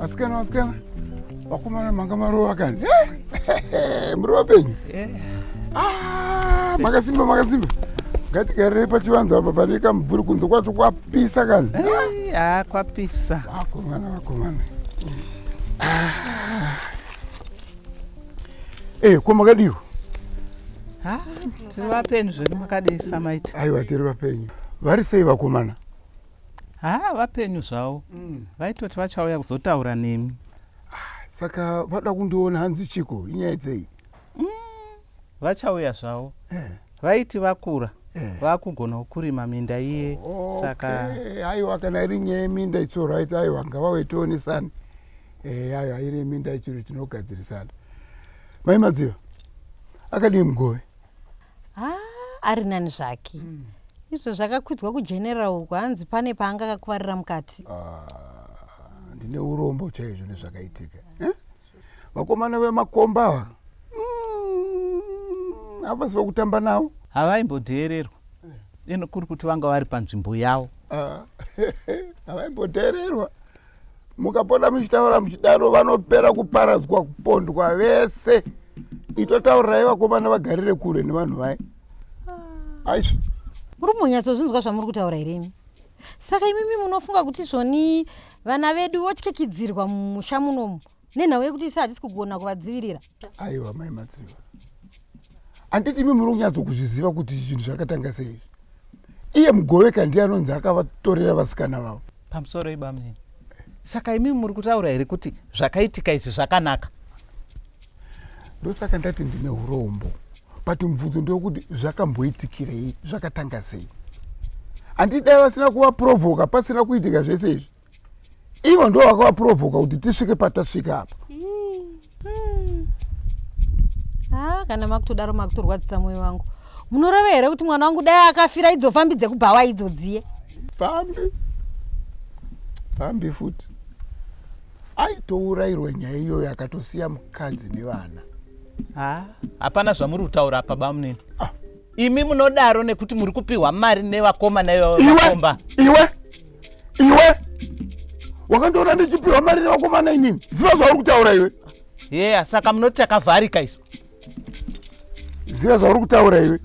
asikana asikana vakomana manga marova kani eh, muri vapenyu eh. ah, makasimba makasimba ngatigarire pachivanza apa pane kamubvuri kunze kwacho kwapo Pisa kani? Eh, ah, kwapisa. Vakomana, vakomana. Ah. Eh, kwa makadiwa? Ah, tiri vapenyu zvedu makadii samaita? Aiwa, tiri vapenyu. Vari sei vakomana? Ah, vapenyu zvavo. Mm. Vaitoti vachauya kuzotaura nemi. Ah, saka vada kundiona hanzi chiko, inyaya dzei? vachauya zvavo vaiti vakura vakugonawo kurima minda iye saka Eh, aiwa kana iri nyaya yeminda it's alright aiwa ngavauye tionesane Eh, aiwa iri yeminda ichiri tinogadzirisana mai madziva akadii mugove Ah, ari nani zvake izvo zvakakwidzwa kugeneral uko hanzi pane paanga akakuvarira mukati Ah, ndine urombo chaizvo nezvakaitika Eh? vakomana vemakomba ava mm, havasi mm, vakutamba navo havaimbodheererwa ino kuri kuti vanga vari panzvimbo yavo ah, havaimbodheererwa mukapota muchitaura muchidaro vanopera kuparadzwa kupondwa vese itotaurirai vakomana vagarire kure nevanhu vai ah. aizvo muri kumbonyatsozvinzwa zvamuri kutaura here imi saka imimi munofunga kuti svoni Vana vedu votyikyidzirwa mumusha munomu nenhau yekuti isi hatisi kugona kuvadzivirira. Aiwa mai Matsiva, handiti imi muri kunyatso kuzviziva kuti zvinhu zvakatanga sei izvi? Iye Mugoveka ndiye anonzi akavatorera vasikana vavo. Pamusoro ibamunini, saka imi muri kutaura here kuti zvakaitika izvi zvakanaka? ndosaka ndati ndine urombo but mubvunzo ndewokuti zvakamboitikirei zvakatanga sei handii dai vasina kuvaprovoka pasina kuitika zvese izvi ivo ndo vakavaprovoka kuti tisvike patasvika apa hmm. ah, kana makutodaro makutorwadzisa mwoyo wangu munoreve here kuti mwana wangu dai akafira idzo fambi dzekubhawa idzodziye fambi fambi futi aitourairwa nyaya iyoyo akatosiya mukadzi nevana ha hapana zvamuri kutaura apa bamunini ah. imi munodaro nekuti muri kupiwa mari nevakomana iweomba iwe iwe wakandiona ndichipiwa mari nevakomana inini ziva zvauri kutaura iwe yeya saka munoti takavharika isu ziva zvauri kutaura iwe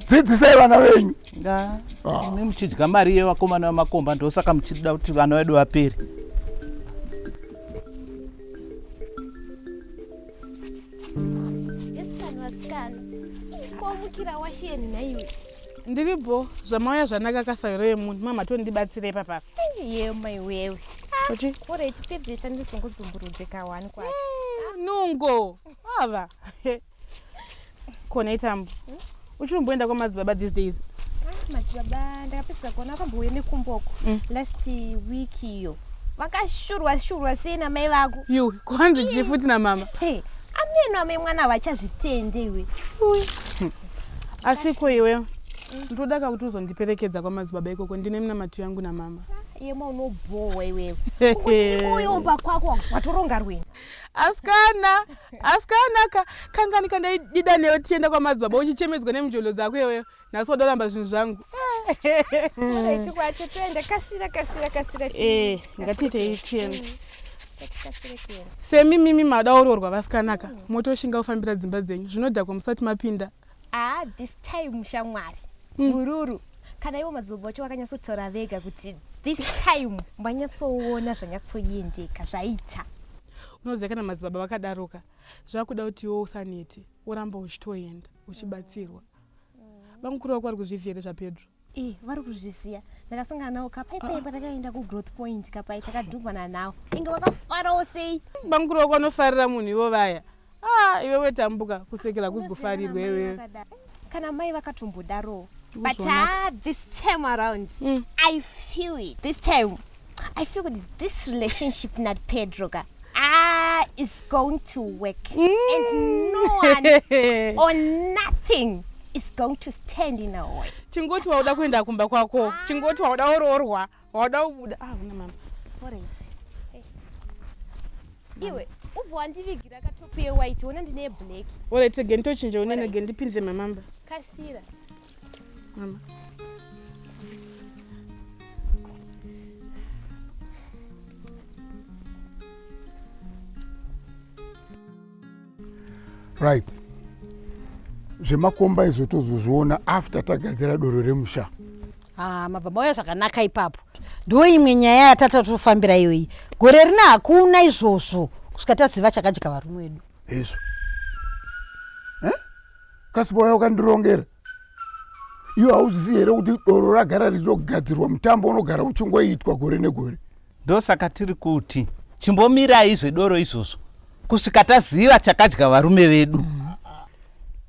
dzidzisai vana venyu ah. imi muchidya mari yevakomana vemakomba ndosaka muchida kuti vana vedu vapere Ndiri bho zvamauya zvanaka kasaviro yemunhu mama tondibatsira ipapa. Yeyo mai wewe. Kuti ora ichipedzisa ndizongodzumburudze kawani kwacho. Mm, nungo. Ava. Kona itambo. Hmm? Uchinomboenda kwamadzibaba these days. Ah, madzibaba ndakapedzisa kuona akambouya nekumboko mm. last week iyo. Vakashurwa shurwa sei namai vako? Yu, kwanzi chifuti namama. Hey, ameno amai mwana vachazvitende iwe. asi ko iwe ndoda ka kuti uzondiperekedza kwamadzibaba ikoko ndine minamato yangu namama yema unobhohwa iwewe uyoomba kwako watoronga rwini asikana asikana ka kangani kandaidida newe tichienda kwamadzibaba uchichemedzwa nemujolo dzako iweyo nhasi wadoramba zvinhu zvangu iti kwacho toenda kasira kasira kasira eh, ngatiitei tiende semi mimi mada ororwa vasikanaka mm. motoshinga kufambira dzimba dzenyu zvinodhakwa musati mapinda ah, this time shamwari mm. mururu mm. kana ivo madzibaba vacho vakanyatsotora vega kuti this time vanyatsoona zvanyatsoendeka zvaita unoziva kana madzibaba vakadaroka zvakuda kuti iwo usaneti woramba uchitoenda uchibatsirwa mm. mm. vamukuru vako vari kuzviziva here zvapedro Eh, vari kuzviziya ndakasangana nawo ka pai pai patakaenda kugrowth point ka pai takadhumhana nawo inge vakafarawo sei bamukuru wako anofarira munhu ivo vaya ah iwewe tambuka kusekera kuzi kufarirwa iwewe kana mai vakatombodarowo but ah, this time around mm. i feel it this time I feel kuti this relationship not Pedro ka ah is going to work mm. and no one or nothing is going to stand in a way. Chingoti wauda kuenda kumba kwako. Ah. Chingoti wauda oroorwa, wauda kubuda. Ah, una mama. Alright. Hey. Iwe ubva wandivigira katopu yewhite wona ndine yeblack. Alright, again tochinja unene again ndipinze mamamba. Kasira. right zvemakomba izvo tozozviona after tagadzira doro remusha ah, mabva mauya zvakanaka ipapo ndo imwe nyaya yatata tofambira iyoyi gore rina hakuna izvozvo kusvika taziva chakadya varume wedu hezvo kasi vauya ukandirongera iwe hauzisi here kuti doro ragara richitogadzirwa mutambo unogara uchingoitwa gore negore ndosaka tiri kuti chimbomirai zvedoro izvozvo kusvika taziva chakadya varume vedu mm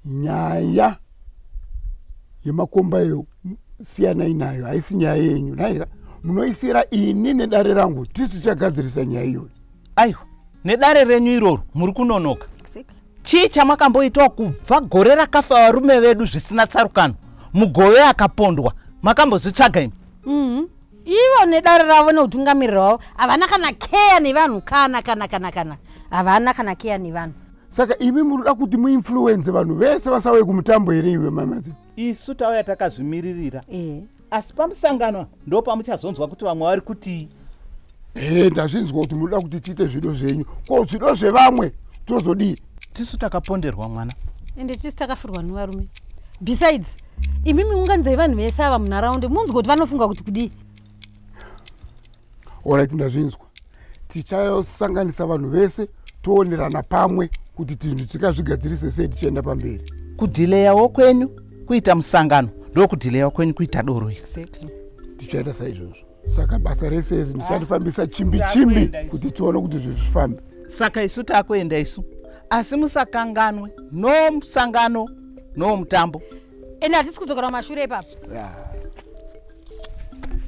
nyaya yemakomba iyo siyanai nayo haisi nyaya yenyu naiza munoisira ini nedare rangu tisu tichagadzirisa nyaya iyoyo aiwa nedare renyu iroro muri kunonoka chii chamakamboitawo kubva gore rakafa varume vedu zvisina tsarukano mugove akapondwa makambozvitsvaga imi mm-hmm. ivo nedare ravo neutungamiriro wavo havana kana keya nevanhu kana kana kana kana havana kana keya nevanhu saka imi munoda kuti muinfluenze vanhu vese vasauye kumutambo here iwe mamazi isu tauya takazvimiririra eh. asi pamusangano apa ndopamuchazonzwa kuti vamwe vari kutii here ndazvinzwa kuti munoda kuti tiite zvido zvenyu ko zvido zvevamwe tozodii tisu takaponderwa mwana ende tisu takafirwa nevarume besides imimi unganzai vanhu vese ava munharaunda munzwa kuti vanofunga kuti kudii Alright ndazvinzwa. Tichasanganisa vanhu vese toonerana pamwe kuti tinhu tikazvigadzirise sei tichienda pamberi. Kudhileyawo kwenyu kuita musangano ndokudhileyawo kwenyu kuita doro iri. Exactly. Tichaita saizvozvo. Saka basa rese iri ndicharifambisa chimbi chimbi kuti tione kuti zvinhu zvifambe. Saka isu takuenda isu. Asi musakanganwe no musangano no mutambo. ende hatisi kudzokera kumashure ipapo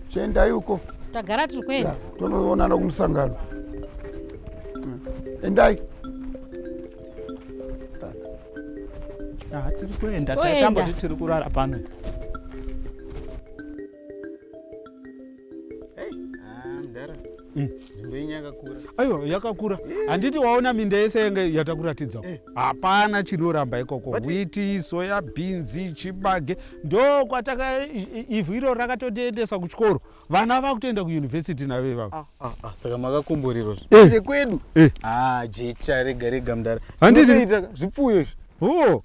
chiendai uko tagara tiri kuenda tonoonana kumusangano hmm. endai tiri kuenda taitamboti tiri kurara pano aiwa yakakura handiti waona minda yese yenge yatakuratidza eh. hapana chinoramba ikoko witi soya bhinzi chibage ndokwataka ivhu iro rakatotiendesa kuchikoro vana vakutoenda kuyunivhesiti navo ivavo ah, ah, ah, saka makakomborerwa eh. kwedu eh. jecha rega rega mdara handiti zvipfuyo izvi oh.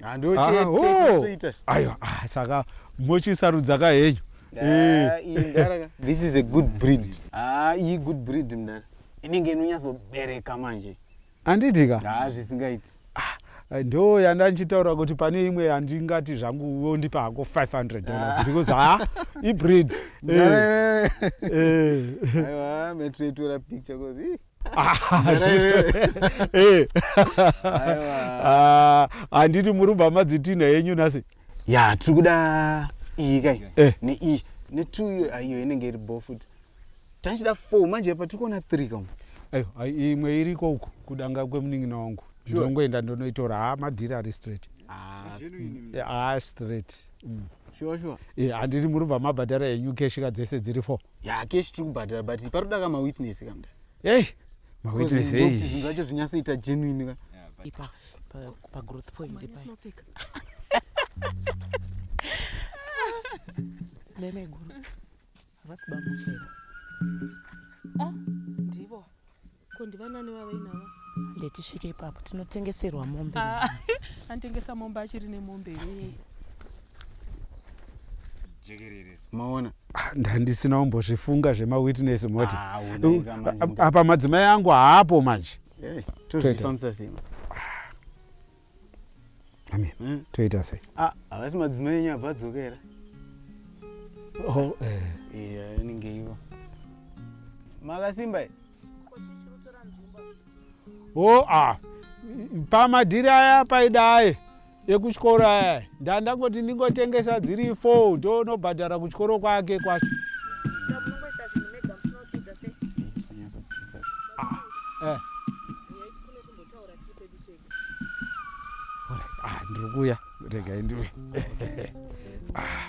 aiwa saka mochisarudza ka henyu Ah, iyi mdara ka. This is a good breed. Ah, iyi good breed mdara. Inenge inonyatsobereka manje. handiti ka Ah, zvisingaiti. ndo yanda ndichitaura kuti pane imwe yandingati zvangu wondipa hako 500 dollars because ha ibreed Eh, Mdara, eh. Aiwa, metoitora picture cause ih. Mdara, eh. Eh. Aiwa. Ah, handiti muri bva madzitinha yenyu nhasi ya tiri kuda iyi kai eh. neiyi netwo iyo ah, iyo inenge iri bo futi tachida four manje patiri kuona three kam ayo imwe iriko uku kudanga kwemunin'ina wangu ndongoenda ndonoitora ha ah, madhiri ari straight ah, mm, a straight mm. sure sure eh handiri muri bva mabhadhara enyu keshi ka dzese dziri four ya keshi tiri kubhadhara but paroda ka mawitness kamda hey mawitness hey zvinhu zvacho zvinyatsoita genuine ka ipa pagrowth point nemeguru havasi bamuchera ah, ndivo ko ndivanani vavainava ndetisvike ipapo tinotengeserwa mombe ah, anotengesa mombe achiri nemombe iyoyo maona ah, ndandisina umbozvifunga zvemawitness moti ah, apa madzimai angu haapo manje Eh, tozvifambisa sei manje? Amen. Mm. Toita sei? Ah, havasi madzimai enyu abva adzokera. Oh, eh. Iya, inenge ivo. Makasimba eh? Oh, ah. Pamadhiri aya paidai. ekuchikoro aya ndandangoti ndingotengesa dziri four ndonobhadhara kuchikoro kwake kwacho eh. ah, ndiri kuya regai ndiwe ah.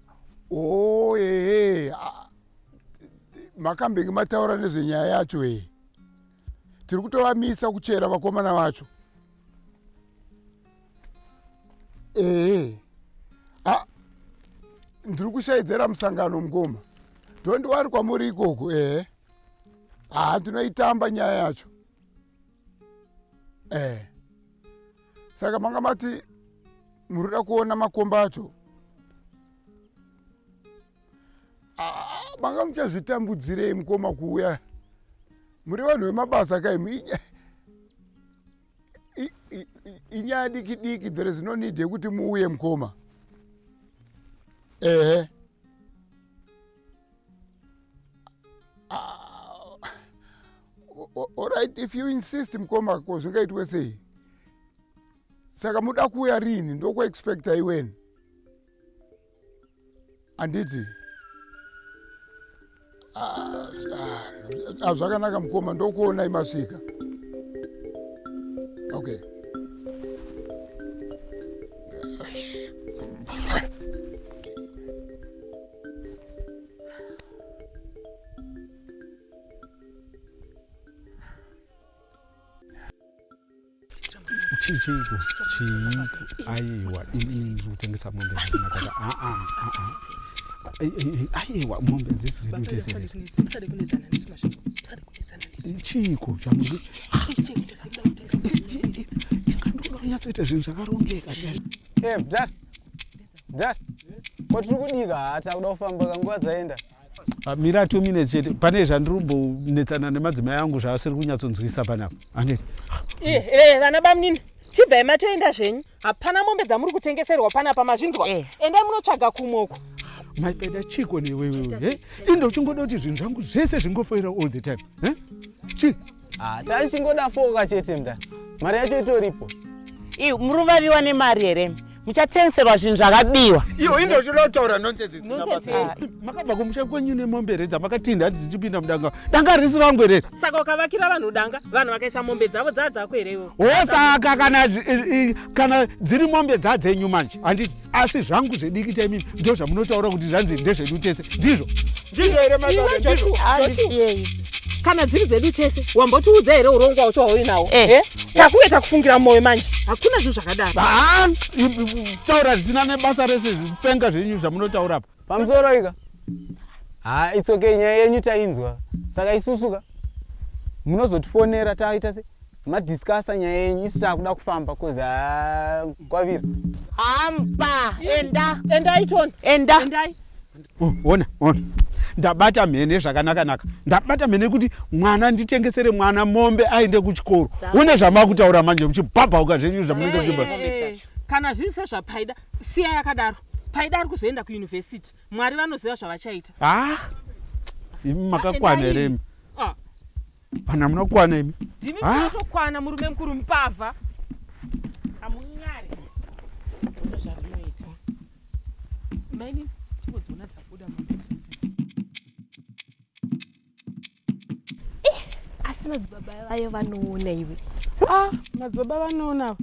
Oh, hey, eh, ah, makambenge mataura nezvenyaya yacho hee eh. tiri kutovamisa kuchera vakomana vacho ehe eh, ah, ndiri kushaidzera musangano mukoma tondiwari kwamuri ikoko ehe haa ndinoitamba nyaya yacho eh saka manga mati muri kuda kuona makomba acho ah, manga muchazvitambudzirei mukoma kuuya muri vanhu vemabasa kaimi inyaya diki diki there is no need yekuti muuye mukoma ehe eh. Alright, if you insist mkoma ko zvingaitwe sei? Saka muda kuuya rini ndoku expecta iweni. Anditi? Ah, ah, zvakanaka mkoma ndokuona imasvika. Okay. chii chiiko chiiko aiwa inini kutengesa mombe zvakanakata aa aiwa mombe dzisi dzedu tesese chiiko chamuri ingandodonyatsoita zvinhu zvakarongeka Dad, ko tiri kudika haa takuda kufamba ka nguva dzaenda. Ah, mira two minutes chete pane zvandiri kumbonetsana nemadzimai angu zvaasiri kunyatsonzwisa panapa aneti Eh, eh, vana bamnini chibvai matoenda zvenyu hapana mombe dzamuri kutengeserwa panapa mazvinzwa Eh. endai munotsvaga kumwe uko maipeda chiko newewewe eh? inde uchingoda kuti zvinhu zvangu zvese zvingofoira all the time eh? chi Ah, taichingoda foka chete mda mari yacho itoripo iwe muruva viwa nemari here muchatengeserwa zvinhu zvakabiwa iyo indochinotaura nonsense dzisina Nonsense, basa eh. here? makabva kumusha kwenyu nemombe redza makatinda hati dzichipinda mudanga danga risi rangu here saka ukavakira vanhu danga vanhu vakaisa mombe dzavo dzaa dzako here ivo hosaka kana zvi- i- i- kana dziri mombe dzadzenyu manje handiti asi zvangu zvediki chaimimi ndo zvamunotaura kuti zvanzi ndezvedu tese ndizvo ndizvo here maandisiyei kana dziri dzedu tese wambotiudza here urongwa wacho wauinawo eh, eh? takuve takufungira mwoyo manje hakuna zvinhu zvakadaro taura zvisina nebasa rese zvipenga zvenyu zvamunotaura pa pamusoro ika ha it's okay nyaya yenyu tainzwa saka isusuka munozotifonera taita se madiscussa nyaya yenyu isu taakuda kufamba bcoz ha kwavira hamba enda endai tony enda endai Oh, ona ona ndabata mhene zvakanakanaka ndabata mhene kuti mwana nditengesere mwana mombe aende kuchikoro une zvamakutaura manje muchibhabhauka zvenyu zvamunenge muchibha Eh, eh, eh. kana zviri sezvapaida siya yakadaro paida ari kuzoenda kuuniversity mwari vanoziva zvavachaita ah imi makakwana here imi ah. vanhu hamuna kukwana imi ndimi ah. munatokwana murume mukuru mupavha hamunyari ono zvarinoita maini chimwe dziona dzabuda Eh, asi madzibaba vayo vanoona iwe ah madzibaba vanoona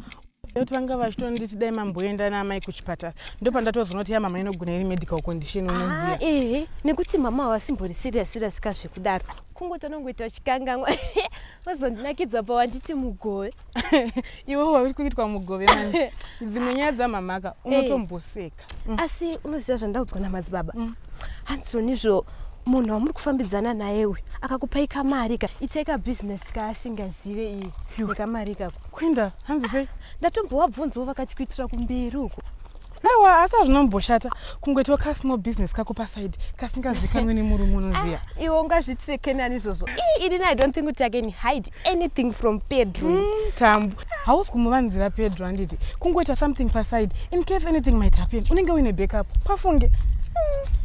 kuti vanga vachitonditi dai mamboenda naamai kuchipatara ndopandatozoonoti ya mama inogona iri medical condition unoziva ah, ehe nekuti mama havasimbori serious serious ka zvekudaro kungoti anongoita chikanganwa vazondinakidza pa wanditi mugove iwe wauri kuitwa mugove manje dzimwe nyaya dzamamaka eh. unotomboseka mm. asi unoziva zvandaudzwa namadzibaba mm. hanzoni izvo munhu wamuri kufambidzana naye uyu akakupai kamari ka itai kabusiness kaasingazive iye nekamari ikako kuinda hanzi sei ndatombowabvunzawo vakati kuitira kumberi uko aiwa asi azvinomboshata kungoitawo kasmall business kako paside kasingazikanwe nemurume unoziva ah, iwe ungazvitireke nani izvozvo ini i don't think kuti akeni hide anything from pedro mm, tambu hausi kumuvanzira pedro handiti kungoita something paside in case anything might happen unenge uine backup pafunge mm,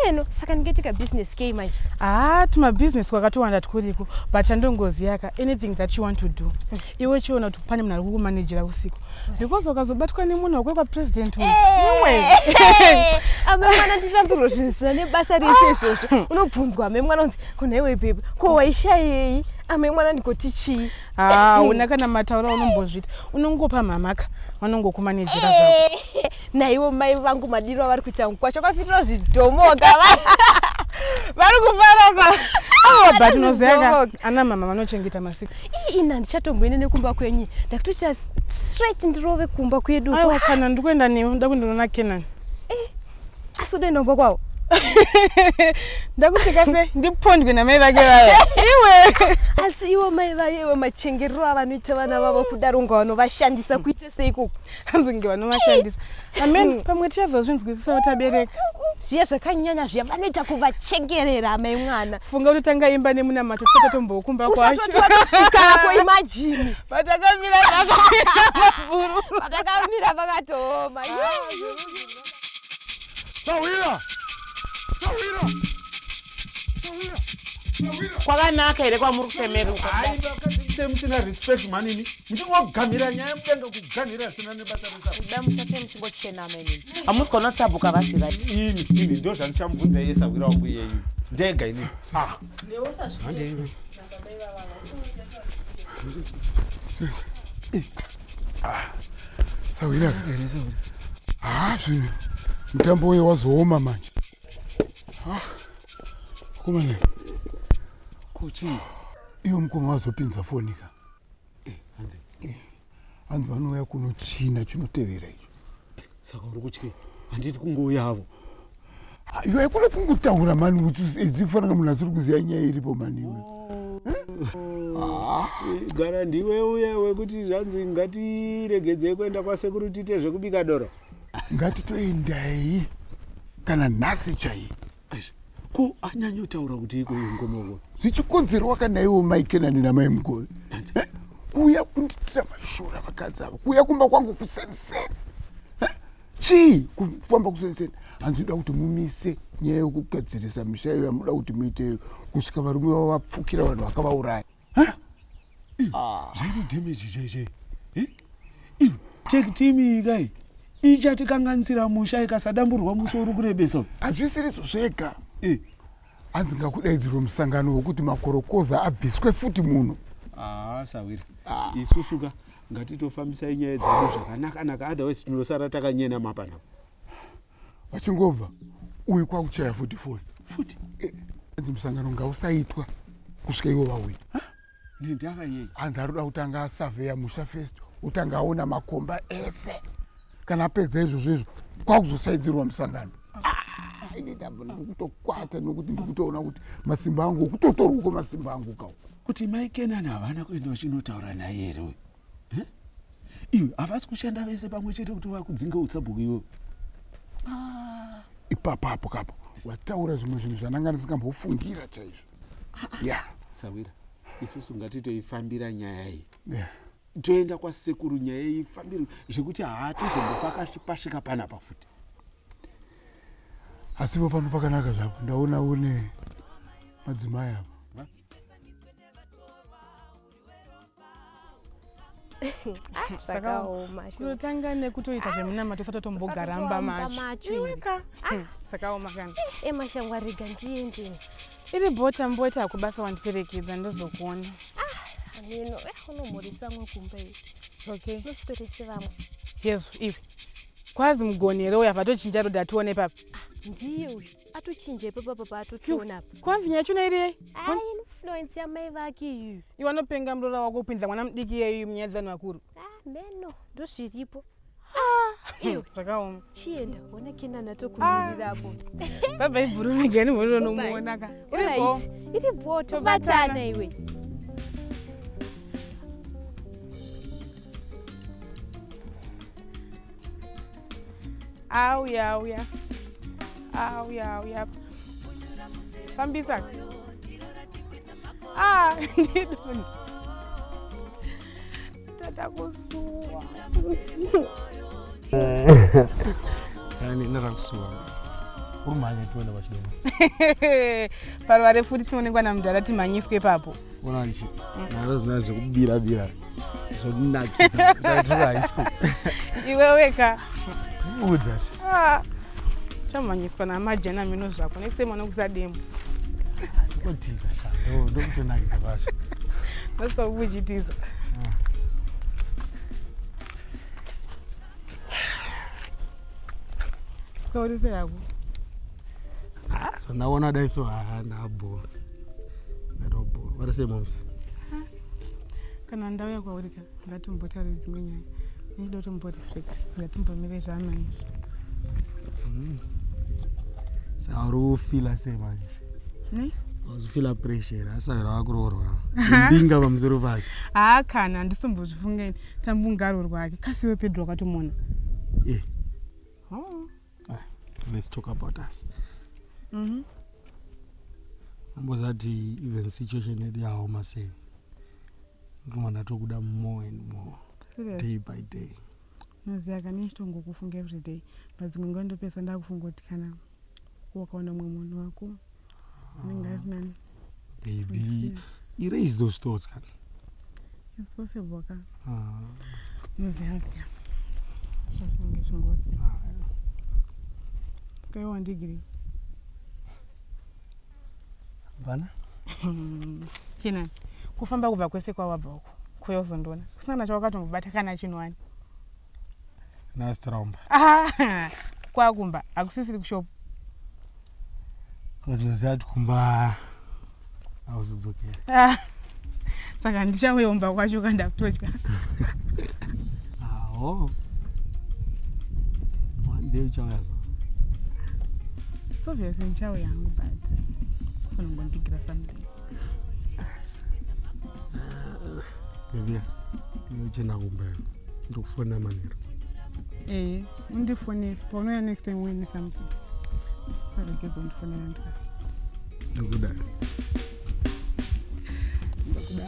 ameno saka ndingaiti kabusiness kei manje haa ah, tumabusiness kwakatowanda tkuriko but andongoziyaka anything that you want to do mm. iwe chiona kuti pane munhu ari kukumanejera usiku because wakazobatwa nemunhu wekwe kwapresident amemwana tichaturozvinisina nebasa rese izvozvo unobvunzwa amemwana unzi kunaiwe babe ko waishayei amai mwana ndikoti chii haa una kana matauro aunombozviita unongopa mhamaka vanongokumanejera zvako naiwo mai vangu madiro avari kuita kwacho kwafitirwa zvidhomoka vari kufaraka but unoziva ana mama vanochengeta masika ina ndichatomboende nekumba kwenyu ndakutoita straight ndirove kumba kwedu kana ndikuenda newe nda kundinoona kenani asi ude ndombo kwawo ndakusvika se ndipondwe namai vake vaya iwe asi iwo mai vaye iwe machengerero avanoita vana vavo kudaro unga vanovashandisa kuita seiko hanzi kunge vanovashandisa amen mm. pamwe tichazozvinzwisisa vatabereka zviya zvakanyanya zviya vanoita kuvachengerera amai mwana funga kuti tanga imba nemunamato tisati tombokumba kwachousvikapo imajini patakamira pakatomira pakatooma sahwira sahwira sahwira kwakanaka here kwamuri kufemeruka sei musina respect manini muchingogamhira nyaya mudenga kugamhira asina nebasa resakuda muchasei muchingochenama inini hamusi kona sabuka vasira ini ini ndo zvandichamubvunza iye sahwira wangu iyeyu ndega inini ah. sahwira haa zvinhu mutambo uye wazooma manje komana kuchii iwe mukoma wazopinza foni ka hanzi vanouya kuno china chinotevera icho saka uri kutye handiti kungouya avo iwe kune kungotaura mani izifanaka munhu asiri kuziva nyaya iripo mani iwe ah. gara ndiwe uya wekuti zvanzi ngatiregedzei kuenda kwasekuru tiite zvekubika doro ngatitoendai kana nhasi chaiye ko anyanyotaura kuti iko ingomoko zvichikonzerwa kana iwo mai kenani namai mugove eh? kuuya kunditira mashura vakadzi ava kuuya kumba kwangu kuseniseni eh? chii kufamba kuseniseni hanzi inoda kuti mumise nyaya yokugadzirisa misha iyo yamunoda kuti muiteyo kusvika varume vavo vapfukira vanhu vakavauraya zvairi damage chaichai iwe tekitimiikai ichatikanganisira musha ikasadamburwa musi uri kurebesa uyu hazvisiriso zvega hanzi ngakudaidzirwe musangano wekuti makorokoza abviswe futi muno haa sahwira ah. isusuka ngatitofambisai nyaya dzedu zvakanaka naka otherwise tinosara takanyena mapanapa vachingobva uyu kwakuchaya futi foni futi eh, anzi musangano ngausaitwa kusvika ivo vauya nendava yei anzi arikuda kutanga asaveya musha first utanga aona makomba ese kana apedza izvozvo izvo kwakuzosaidzirwa musangano ah, ini ndabva ndikutokwata nokuti ndikutoona kuti masimba angu okutotorwa ko masimba angu kau kuti maikenani havana kuenda vachinotaura naye here uyu eh? iwe havasi kushanda vese pamwe chete kuti vakudzinge utsabhuku iwe ah. ipapapo kapo wataura zvimwe zvinhu zvandanga ndisingambofungira chaizvo ah, ah. ya sawira isusu ngatitoifambira nyaya iyi yeah toenda kwasekuru nyaya iyi fambiro zvekuti haatizombopakashipashika panapa futi asipo pano pakanaka zvapo ndaona une madzimai avo kutanga nekutoita zvemunamato usati tombogaramba machoiweka ah. zvakaoma kana emashango eh, arega ndiendini iri bota mboita akubasa wandiperekedza ndozokuona hameno ah, eh, unomhorisa mwe kumba iwe okay usikorese vamwe yezu iwe kwazi mugoni here uya vatochinja roda tione papi ah, ndiye uyu atochinja ipapo apa paatotiona apa kwanzi nyaya chona iri yei Ai, influence yamai vake iyu iwe anopenga muroora wako kupinza mwana mudiki iyeyu munyaya dzevanhu vakuru Ah, meno ndozviripo iwe zvakaoma chienda ona kenani atokumirira apo baba ibvurumigani mhoriro nomuonaka Alright, uripo iri bho Tobatana. tobatana iwe auya auya auya auya fambisa ah ndidoni tata kusuwa yani narakusuwa urumhanye tione vachidoma pano vari futi tinoonekwa namudhara timhanyiswe ipapo ona ichi naro zina zvekubira bira zvonakidza ndaitira high school iwe weka udza ah, chamhanyiswa namajena mino zvako next time anokuza demo otiza shando ndokutonakidza kwazvo ndosvika kukuchitiza sikaotiseyako Ah, zvandawona dai so haana bho ndatobho vari sei moms kana ndauya kwauri ka ngatimbotaure dzimwe nyaya ndinoda kuti mboreflect ngatimbomire zvana izvo hmm. saka uri kufila sei manje ne wazvifila pressure asara wakuroorwa mbinga pamusoro pake haa kana handisombozvifungaini tambungarwo rwake kasiwe pedro wakatomona eh. Ah, let's talk about us mm -hmm. ambozati even situation yedu yaoma sei ndinova ndatokuda more and more Serious? day by day noziva kani ichitongokufunga everyday padzimwe nguva ndopesa ndakufunga kuti kana wakaona mumwe munhu wako ndingarinani baby erase those thoughts kani it's possible ka ah. unoziva kuti zvakange zvingoti skaiwa ndigiri bana kina kufamba kubva kwese kwawabva uko kuya uzondiona kusina kana chawakatombobata kana chinhu wani nasitiromba ah, kwakumba hakusisiri kushopa Cause noziva kuti kumba hauzodzokera. Ah. Saka ndichauya kumba kwacho kanda kutodya. Aho. One day uchauya so. It's obvious ndichauya hangu but funa ngondigira something. Ndivya. Ndinochenda kumba. Ndokufona manero. Eh. undifonere paunouya next time uine something saregedza undifonera ndika ndakuda ndakuda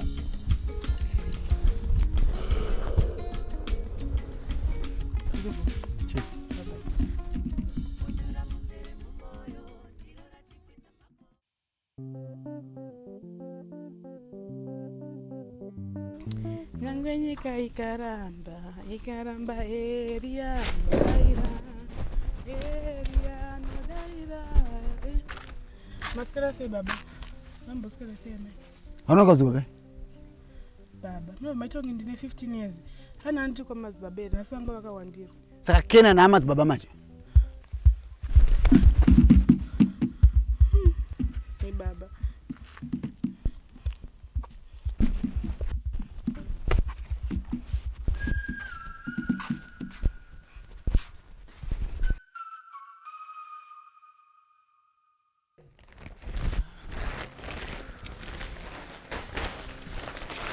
Nyangwe nyika ikaramba, ikaramba Eria nodaira, Eria nodaira. Eh, Masikara sei baba? Mambosikara sei amai? Hauna mukadzi wako kai? Baba, no matongi ndine 15 years. Hana ndiri kwamadzibaba here, nhasi vanga vakawandirwa. saka kena nehama dzibaba manje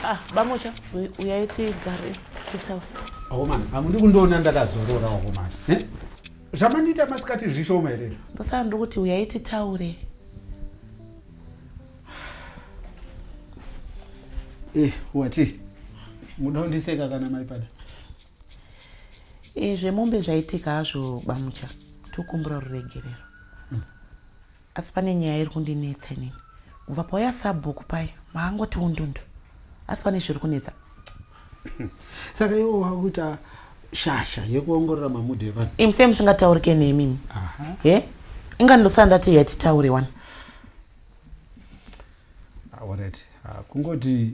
Ah, bamocha uyai tigare titaure homani hamudi kundiona ndakazorora homani eh? zvamandiita masikati zvishoma here ndosaka ndiri kuti uyai titaure eh, wati muda kundiseka kana maipada e, eh, zvemombe zvaitika hazvo bamucha tokumbura ruregerero Hmm. Asi pane nyaya iri kundinetsa inini. Kubva pauya sabhuku paye maangoti undundu. Asi pane zviri kunetsa. Saka iwo wakuita shasha yekuongorora mamudhi evanhu. Imi sei musingataurike nemi imi? He? Inga ndosandati yatitaure wani. Alright. Ah, ah, kungoti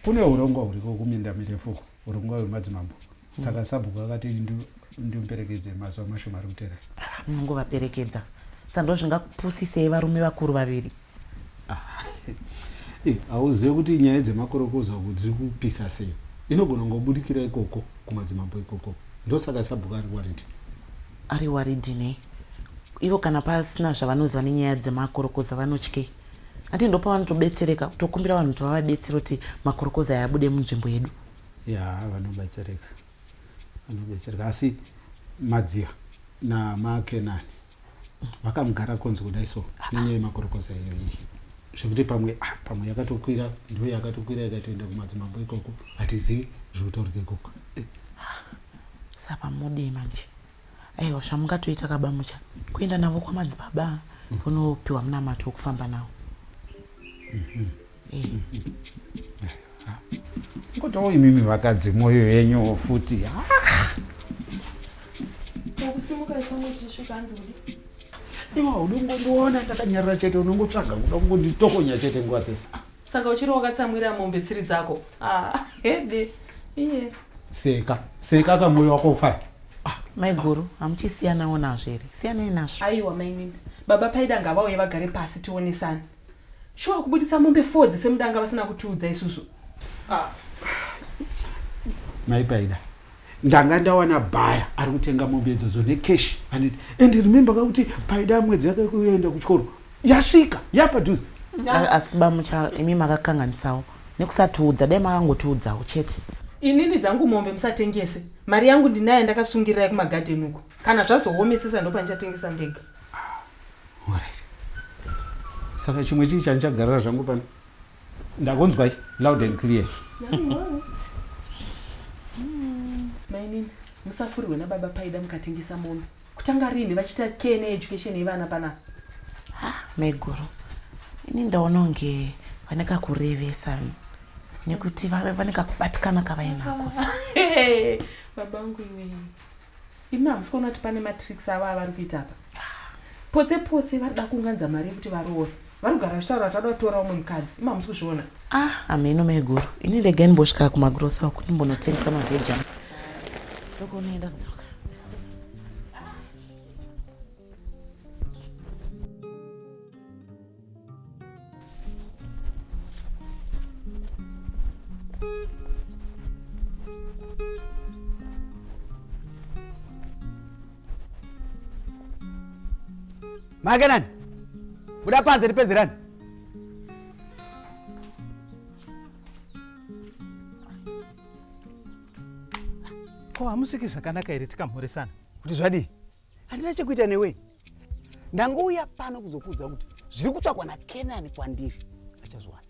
kune urongwa huriko kuminda mirefu urongwa wemadzimambo saka sabhuku vakati ndimperekedze mazuva mashoma ari kutera ah, munongovaperekedza sando zvingakupusisei varume vakuru vaviri ah, eh, hauzive kuti nyaya dzemakorokoza uku dziri kupisa sei inogona ngobudikira ikoko kumadzimambo ikoko ndosaka sabhuku ari waridhi ari waridhi nei ivo kana pasina zvavanoziva nenyaya dzemakorokoza vanotyei ati ndopavanotobetsereka tokumbira vanhu kuti vavabetsere kuti makorokoza yabude munzvimbo yedu Yaa vanobetsereka vanobetsereka asi madziya namakenani vakamugara konzi kudai so nenyaya yemakorokoza iyo iyi zvekuti pamwe ah, pamwe yakatokwira ndo yakatokwira ikatoenda kumadzimambo ikoko hatizivi zvekutorwa ikoko eh. saka mudii manje Aiwa zvamungatoita ka baMucha kuenda navo kwamadzibaba vonopiwa munamato wekufamba nawo. Eh. Ngotawo imimi vakadzi mwoyo yenyu futi. Ah! Wakusimuka isango tichisvika hanzi kudi. Iwa unongondiona ndakanyarara chete unongotsvaga kuda kungonditokonya chete nguva dzese. Saka uchiri wakatsamwira mombe tsiri dzako. Ah, hede. Iye. Seka, seka ka moyo wako ufara. Ah, mai guru, hamuchisiyanawo nazvo here? Siyanai nazvo. Aiwa mainini. Baba Paida ngavauye vagare pasi tionesane. Shuwa kubuditsa mombe four dzese mudanga vasina kutiudza isusu. Ah. Mai Paida, ndanga ndawana bhaya ari kutenga mombe idzodzo necash anditi and remember ka kuti paida mwedzi yake kuenda kuchikoro yasvika yapadhuze asi bamucha imi makakanganisawo nekusatiudza dai makangotiudzawo chete inini dzangu mombe musatengese mari yangu ndinaye ndakasungirirai kumagadheni uko kana zvazoomesesa ndopandichatengesa ndega ah, saka chimwe chii chandichagarira zvangu pano Ndakunzwa loud and clear. Mainini, musafurirwe nababa Paida mukatengesa mombe. Kutanga rini vachita care needucation yevana panapa? maiguru ini ndaona kunge vane kakurevesa nekuti vane kakubatikana kavainako Hey, baba wangu iwewe. Imi hamusi kuona kuti pane matricks avo avari kuita apa potse potse vari da kunganza mari yekuti varoore vari kugara vachitaura kuti vada kutora umwe mukadzi imi hamusi kuzviona ah hameno maiguru ini rega ndimbosvika kumagrosa uku ndimbonotengesa maveji ano ndokuonaenda dzoka make nani buda panze tipedzerani ko hamusviki zvakanaka here tikamhoresana kuti zvadii handina chekuita newe ndangouya pano kuzokuudza kuti zviri kutsvakwa nakenani kwandiri achazviwana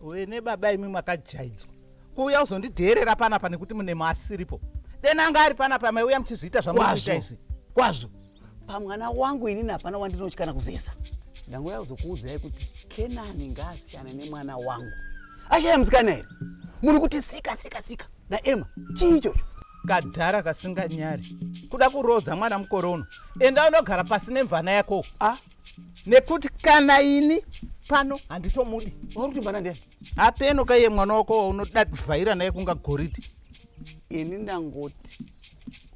we nebaba imwi makajaidzwa kuuya uzondidheerera panapa nekuti mune maasiripo dena anga ari panapa amaiuya muchizviita zvamuita izvi kwazvo pamwana wangu ini napana wandinotyana kuzesa ndangouya kuzokuudzai kuti kenani ngaasiyane nemwana wangu ashaya musikana here muri kuti sika sika sika naema chii ichocho kadhara kasinganyari kuda kuroodza mwana mukore uno enda unogara pasi nemvana yako a nekuti kana ini pano handitomudi uri kuti mvana ndiani hapeno kaiye mwana wako waunoda kuvhaira naye kunga goridhi ini ndangoti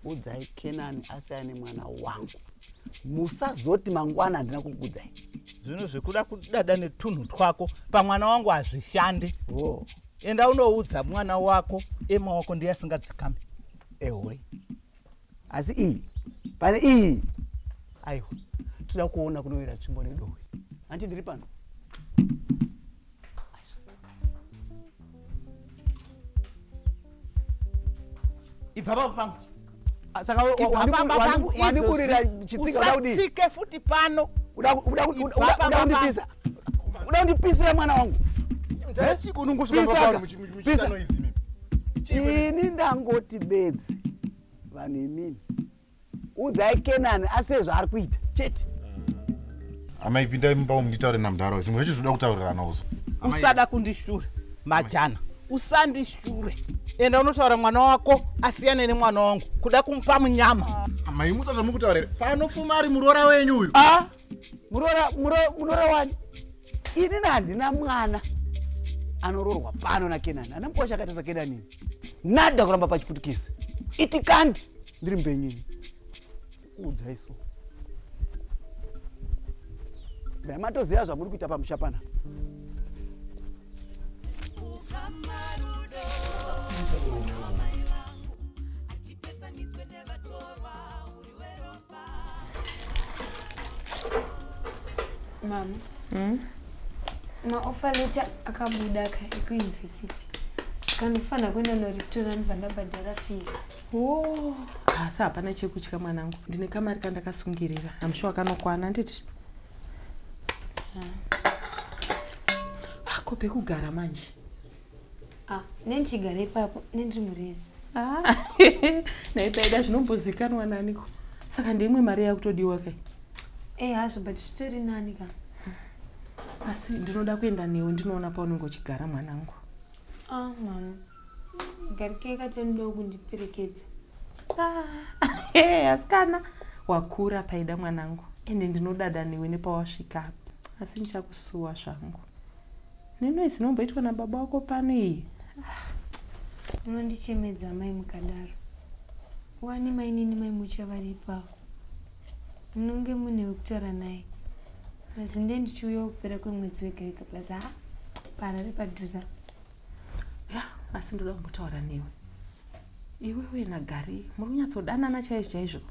udzai kenani asiya nemwana wangu musazoti mangwana handina kukudzai zvino zvekuda kudada netunhu twako pamwana wangu hazvishande oh. enda unoudza mwana wako ema wako ndiye asingadzikami ehoi asi iyi pane iyi aiwa toda kuona kunoyera tsvimbo nedohwe hanti ndiri pano ibva pavo pangu Ah, saka wandikurira chitsika uda kudii usasike futi pano uda kundipisa uda kundipisira mwana wangu ini ndangoti bedzi vanhu imimi udzai kenani ase zvaari kuita chete ah. amai pindai mumba umu nditaure namdhara zvimwe zvacho zvinoda kutaurirana uzo usada kundishura majana usandishu sure enda unotaura mwana wako asiyane nemwana wangu kuda kumupa munyama amai mutsa zvamukutaurira panofuma ari muroora wenyu uyu a muroora muroora muroora wani ini na handina mwana anoroorwa pano nakenani ana mukosha akaita sakenanini nada kuramba pachiputukisi itikandi ndiri mbenyini kuudza isu dai matoziva zvamuri kuita pamusha pana mama mm? maofa leta akabuda ka ekuuniversity kanofanira kuenda noriptora ndibva ndabhadhara fees Oh, asi hapana chekutya mwanangu. Ndine kamari kandakasungirira. I'm sure kanokwana nditi. Hako pekugara manje. Ah, nendigara ipapo nendiri murezi. Ah, naipaida zvinombozikanwa naniko. Saka ndeimwe mari yakutodiwa kai. Eh, hazvo but zvitori nani ka. Asi ndinoda kuenda newe ndinoona paunenge uchigara mwanangu. Ah, mama. garikei katani ndo kundiperekedza ah, asikana wakura paida mwanangu ende ndinodada newe nepawasvika apa asi ndichakusuwa zvangu neno izinomboitwa nababa wako pano iyi unondichemedza mai mukadaro wani mainini mai mucha varipawo munonge mune wekutaura naye mazinde ndichiuyawo kupera kwemwedzi wega wega plus ha parari padhuza ya asi ndoda kumbotaura newe iwewe nagari muri kunyatsodanana chaizvo chaizvo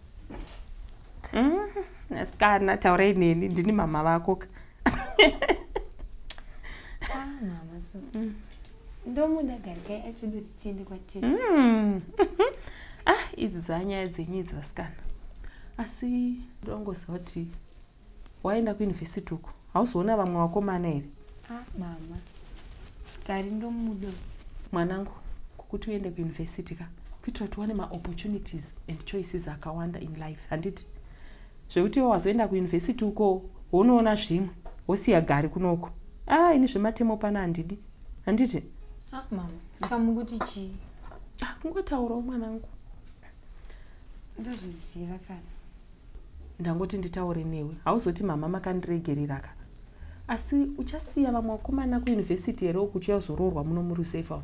mm-hmm. asikana taurai neni ndini mama vako ka ah, mama so mm. ndomuda gari kai atoda kuti tiende kwatete mm. ah idzi dzanyaya dzenyu idzi vasikana asi ndongoziva kuti waenda kuuniversity uko hauzoona vamwe vakomana here ah, mama tari ndomudo mwanangu kukuti uende kuuniversity ka kuitira kuti uwane maopportunities and choices akawanda in life handiti zvekuti iwo wazoenda kuuniversity uko wonoona zvimwe wosiya gari kunoko ah ini zvematemo pano handidi handiti ah, mama saka mukuti chii ah, kungotaurawo mwanangu ndozviziva kana Ndangoti nditaure newe hauzoti mhamha makandiregerera ka asi uchasiya vamwe vakomana kuuniversity here uku uchiuya kuzoroorwa muno murusafe umu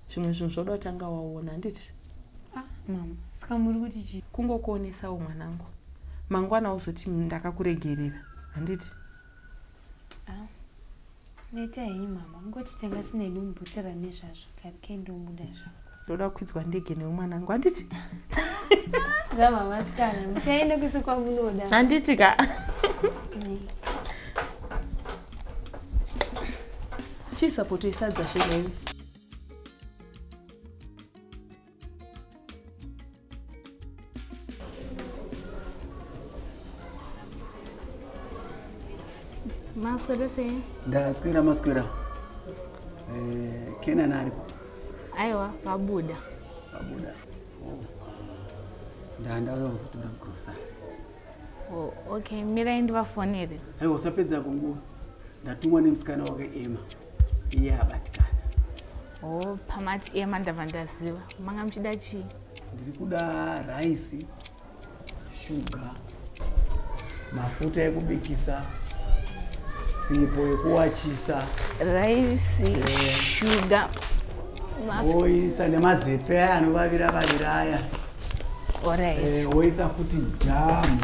zvimwe zvinhu zvoda kutanga waona handiti ah, mama saka muri kuti chi kungokuonesawo mwanangu mangwana uzoti ndakakuregerera handiti Neta henyu mama, ungotitenga sinedu mubhotera nezvazvo kari kendomuda zvangu. Ndoda kwidzwa ndege newe mwanangu handiti? Zvamama sikana, muchaenda kwese kwamunoda. Handiti ka? Chii sapoto isadza shemeni? Maswera sei? Ndaswera maswera. Eh, Kena nari. Aiwa, vabuda. Vabuda. Oh. Ndanda uyo kuzotora grocery. Oh, okay, mira ndivafonere. Aiwa, usapedza kunguva. Ndatumwa nemusikana wake Emma. iye abatikana oh pamati iye mandava ndaziva manga muchida chii ndiri kuda raisi shuga mafuta ekubikisa sipo yekuwachisa raisi eh. shuga oisa nemazepe aya anovavira vavira aya Eh, woisa futi jamu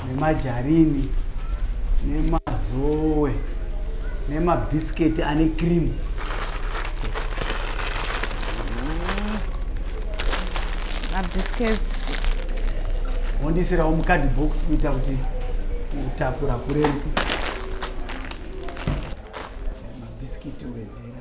nemajarini nemazowe nemabhisiketi ane krimu mabhisiketi wondisirawo mukadhi box kuita kuti utapura kureruke mabhisiketi wedzera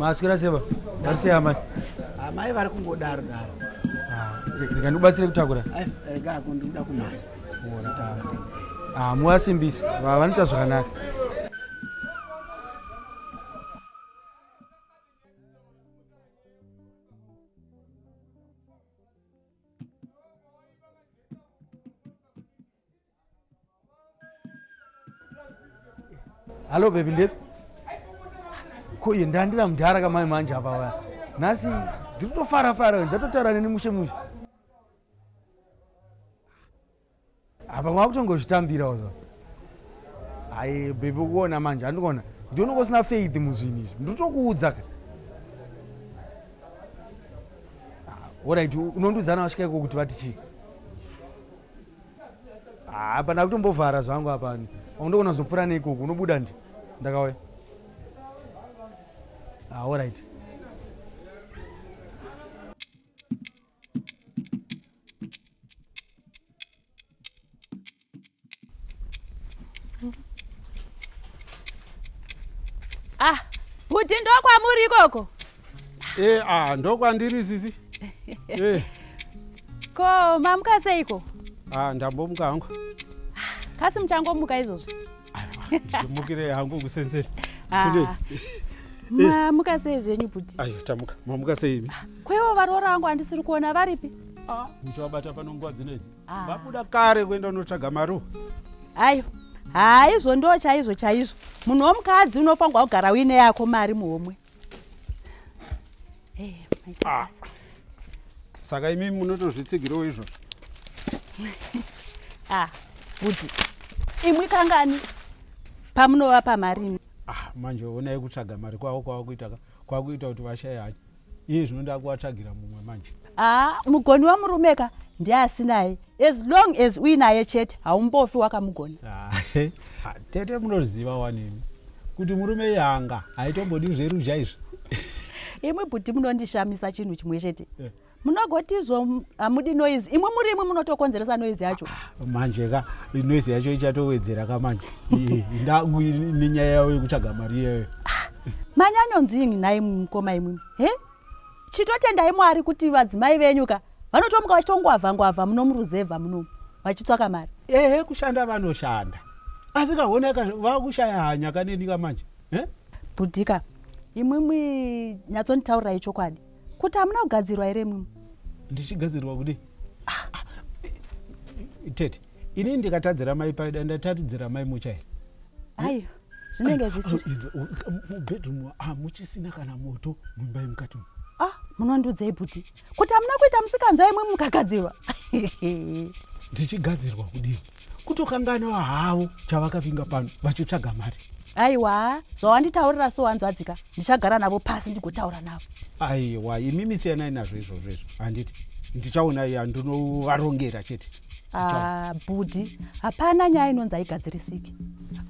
maaswera seva vari sei amai amai vari kungodaro daro ah, rega ndikubatsire kutakura eh, rega ako ndikuda kumhanya ah, muasimbisi vanoita zvakanaka Hello baby Ndevi. Ko iye ndandira mudhara kamai manje apa waya. Nhasi dziri kutofara fara dzatotaura neni mushe mushe. Apa makutongozvitambirawo zvo. Hayi baby ukuona manje andikuona. Ndiona kusina faith muzvinhu izvi. Ndinotokuudza ka. Ah, Alright unondiudzana wasvika iko kuti vati chii? Ah, apa ndakutombovhara zvangu apa ndogona zopfura neikoko unobuda ndi ndakauya ah, allright ah kuti ndokwamuri ikoko Eh, ah, ndokwandiri sisi. Eh. Ko mamuka seiko? Ah, ndambomuka hangu. Kasi muchangomuka izvozvi? Aiwa, ndichimukire hangu kusenseni. Ah. Kune. Mamuka sei zvenyu buti? Ayo, tamuka. Mamuka sei imi? Kwewo varoora vangu andisiri kuona varipi? Ah, muchawabata pano nguva dzino idzi. Ah. Vabuda kare kuenda unotsvaga maruwa. Ayo. Haizvo ndo chaizvo chaizvo. Munhu womukadzi unofanirwa kugara uine yako mari muhomwe. Hey, ah. Saka imi munotozvitsigirewo izvo. ah, kuti imwi kangani pamunova pamari. Ah, manje onai kutsvaga mari kwavo kwava kuita ka. Kwava kuita kuti vashaye hacho. Iye zvino ndakuvatsvagira mumwe manje. haa mugoni wamurume ka ndiasinaye as long as uinaye chete haumbofi wakamugona tete munoziva wanini kuti murume yanga haitombodi zveruzha izvi imwe bhuti munondishamisa chinhu chimwe chete eh. munogoti izvo hamudi noise imwe muri imwe munotokonzeresa noise yacho ah, manje ka noise yacho ichatowedzera ka manje ndangu nenyaya yavo yekutsvaga mari iyeyo ah, manyanyonzwingi nhai mukoma imwimwi he Chitotendai Mwari kuti vadzimai venyu ka vanotomuka vachitongwavha ngwavha muno muruzevha munomu vachitsvaka mari. Ehe kushanda vanoshanda asi ka hona ka vakushaya hanya ka neni ka manje eh? Bhudhi ka imwimwi nyatsonditaurirai chokwadi kuti hamuna kugadzirwa here imwimwi? Ndichigadzirwa kudii? Ah, tete ini ndikatadzira mai paida ndatatidzira mai mucha here? Aiwa. zvinenge zvisimubedroom hamuchisina kana moto muimba yemukati umu ah munondiudzei bhuti kuti hamuna kuita musikanzwa imwe mukagadzirwa ndichigadzirwa kudii kutokanganwa havo chavakavinga pano vachitsvaga mari aiwa zvawanditaurira so wanzwadzika ndichagara navo pasi ndigotaura navo aiwa imimi siyanai nazvo izvozvo izvo handiti ndichaona iya ndinovarongera chete Ah, bhudhi hapana nyaya inonzi haigadzirisiki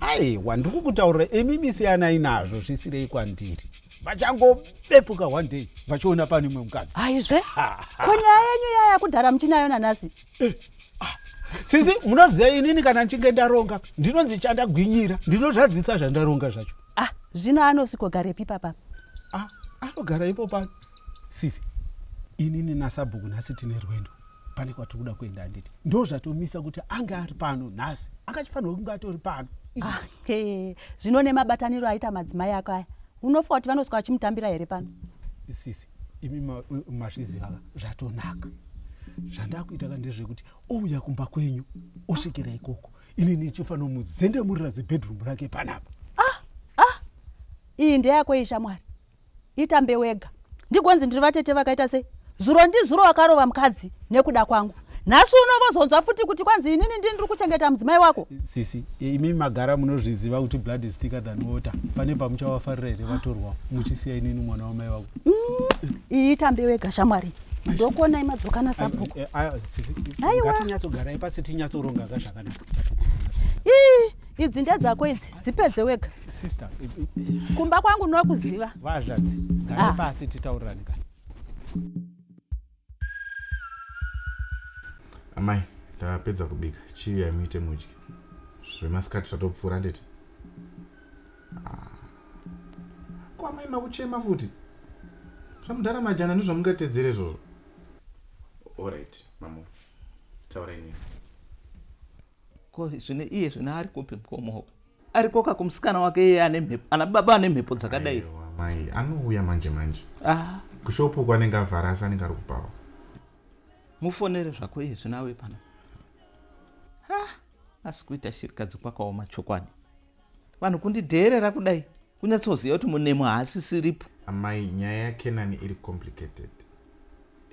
aiwa ndikukutaurira imi misiyanai nazvo zvisirei kwandiri vachangobepuka one day vachiona pane imwe mukadzi haizve ko nyaya yenyu iya yakudhara muchinayo nanhasi eh, ah, sisi munoziva inini kana ndichinge ndaronga ndinonzi chandagwinyira ndinozvadzisa zvandaronga zvacho ah zvino anosvikogarepi papa ah, anogara ipo pano sisi inini nasabhuku nhasi tine rwendo pane kwatiri kuda kuenda handiti ndo zvatomisa kuti ange ari pano nhasi akachifanirwa kunge atori pano ah, zvino nemabataniro aita madzimai ako aya unofa kuti vanosvika vachimutambira here pano sisi imi mazviziva ka zvatonaka zvandakuita ka ndezvekuti ouya kumba kwenyu osvikira ikoko ini ndichifanira muzendemurira zibedroom rake panapa ah, ah. iyi ndeyako iyi shamwari itambe wega ndigonzi ndiri vatete vakaita sei zuro ndizuro wakarova mukadzi nekuda kwangu nhasi uno vozonzwa futi kuti kwanzi inini ndini ndiri kuchengeta mudzimai wako sisi imi magara munozviziva kuti blood is thicker than water pane pamuchawafarira here vatorwa muchisiya inini mwana wamai wako mm, iyi tambe wega shamwari ndokuona imadzokana sabhuku eh, eh, aiwatinyatsogarai pasi tinyatsoronga ka zvakanaka ii idzi ndedzako idzi dzipedze wega sister kumba kwangu nokuziva vazvadzi gare ah. pasi titaurirani ka amai tapedza kubika chii yaimuite mudye zvemasikati zvatopfuura nditi ah. ko amai makuchema futi zvamudhara majana ndozvamungatedzere zvozvo orit mamu taurai nyaya Ko zvino iye zvino ari kupi mkomo uku? Ari koka kumusikana wake iye ane mhepo, ana baba ane mhepo dzakadai. Aiwa mai, anouya manje manje. Ah, Kushopu uko anenge avhara asi anenge ari kubvawo. mufonere zvako iye zvino auye pano. Ha, asi kuita shirikadzi kwakaoma chokwadi. Vanhu kundidheerera kudai, kunyatsoziva kuti munemo haasisiripo. Amai, nyaya yaKenani iri complicated.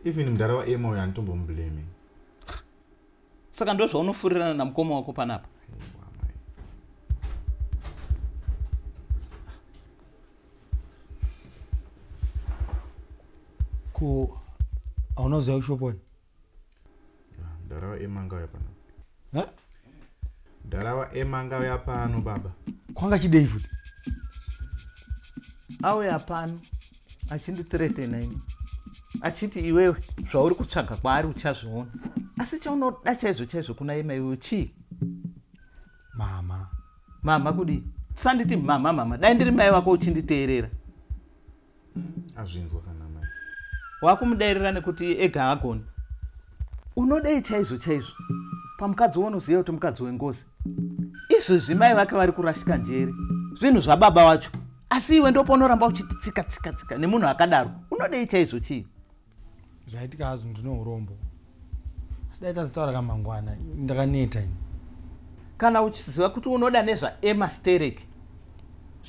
Even mdara waEmma uyo handitombomublame. saka ndozvaunofurirana namukoma wako panapa ko hauna kuziva kushoponi ndarawa emanga uya pano ndarawa emanga uya pano baba kwanga chidei futi auya pano achindithretena ini achiti iwewe zvauri kutsvaga kwaari uchazviona asi chaunoda chaizvo chaizvo kuna yema iwewe chii mama mama kudii sanditi mama mama dai ndiri mai vako uchinditeerera azvinzwa kana mai wakumudairira nekuti ega agoni unodei chaizvo chaizvo pamukadzi wounoziva kuti mukadzi wengozi izvozvi mai vake vari kurashika njere zvinhu zvababa wacho asi iwe ndopaunoramba uchiti tsika tsika tsika nemunhu akadaro unodei chaizvo chii zvaitika hazvo ndine urombo asi dai tazitaura kamangwana ndakaneta ini kana uchiziva kuti unoda nezvaema sterek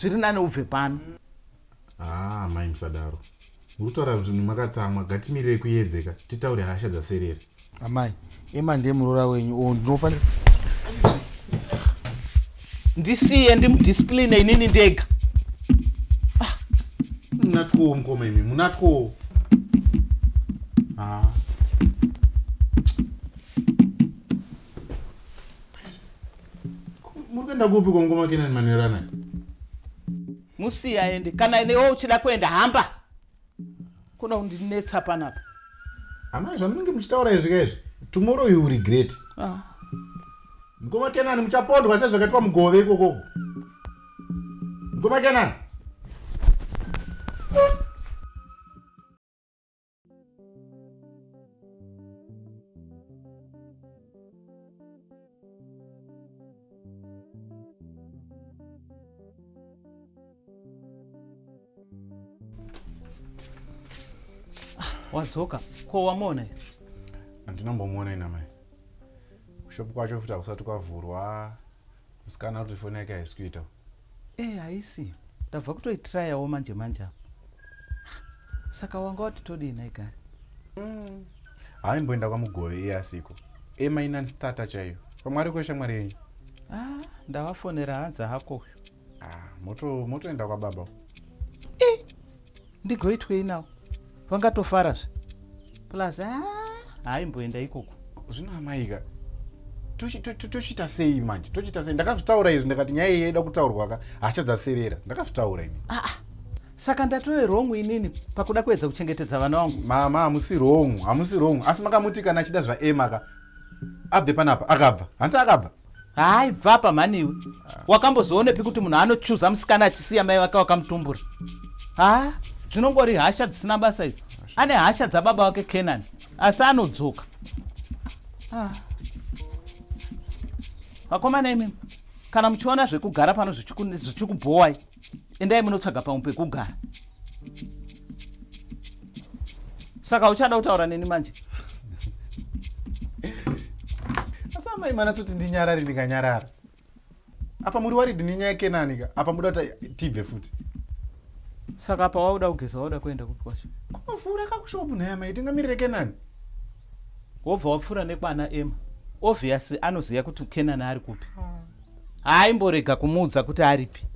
zviri nani ubve pano haa ah, mai musadaro muri kutaura zvinhu makatsamwa gatimirire kuyedzeka titaure hasha dzaserera Amai, Emma ndiye muroora wenyu or ndinofanisa ndisiye ndimudiscipline inini ndega. Ah, munatwo mukoma imi, munatwo. Ah. Muri kuenda kupi kwa mukoma Kenani Manerana? Musiye aende. Kana newe uchida kuenda hamba. Kuda kundinetsa panapa. Amai zvamunenge muchitaura izvi kaizvi. Tomorrow you regret. Ah. Mkoma Kenan muchapondwa sezvakaitwa mugove ikoko. Mkoma Kenan. wadzoka ko wamuona here handina mbomuona ina mai kushopu kwacho futi hakusati kwavhurwa musikana kuti foni yake haisi kuita Eh haisi. Ndabva kutoitryawo manje manje apa. Saka wanga wati todii nhai Gari? Mm. Haimboenda kwamugove iye asiko. Ema inan starter chaiyo. Pamwe ariko ishamwari yenyu. Ah, ndavafonera hanzi hako uyu. Ah, moto motoenda kwababa. Eh. ndigoitwei nawo vangatofara zve plus ah, haaimboenda ikoko zvino amaika tochiita sei manje tochiita sei ndakazvitaura izvi ndakati nyaya iyi yaida kutaurwa ka hasha dzaserera ndakazvitaura ini ah, ah. saka ndatove wrong inini pakuda kuedza kuchengetedza vana vangu mama hamusi wrong hamusi wrong asi makamuti kana achida zvaema ka abve panapa akabva hanti akabva hayi bvapa mhani iwe wakambozoonepi kuti munhu anochuza musikana achisiya mai vake wakamutumbura ha dzinongori hasha dzisina basa idzo ane hasha dzababa wake kenani asi anodzoka vakomana imimi kana muchiona zvekugara pano zvichikubhowai endai munotsvaga pamwe pekugara saka uchada kutaura neni manje asi amai manatsoti ndinyarari ndikanyarara apa muri waridi nenyaya yekenanika apa muda kuti tibve futi saka apa wauda kugeza wauda kuenda kupi kwacho kunofura kakushopu nhaya mai tingamirire kenani wobva wapfuura nekwana ema obviously anoziva kuti kenani ari kupi ah. haaimborega kumuudza kuti aripi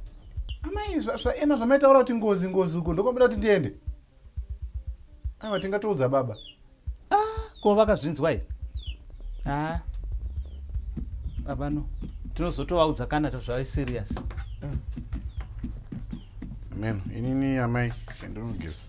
amai zvaema zvamaitaura kuti ngozi ngozi uko ndokwamboda kuti ndiende aiwa tingatoudza baba ah, ko vakazvinzwa here haa ah. baba no tinozotovaudza kana tozvave serious mm. meno inini amai endinogeza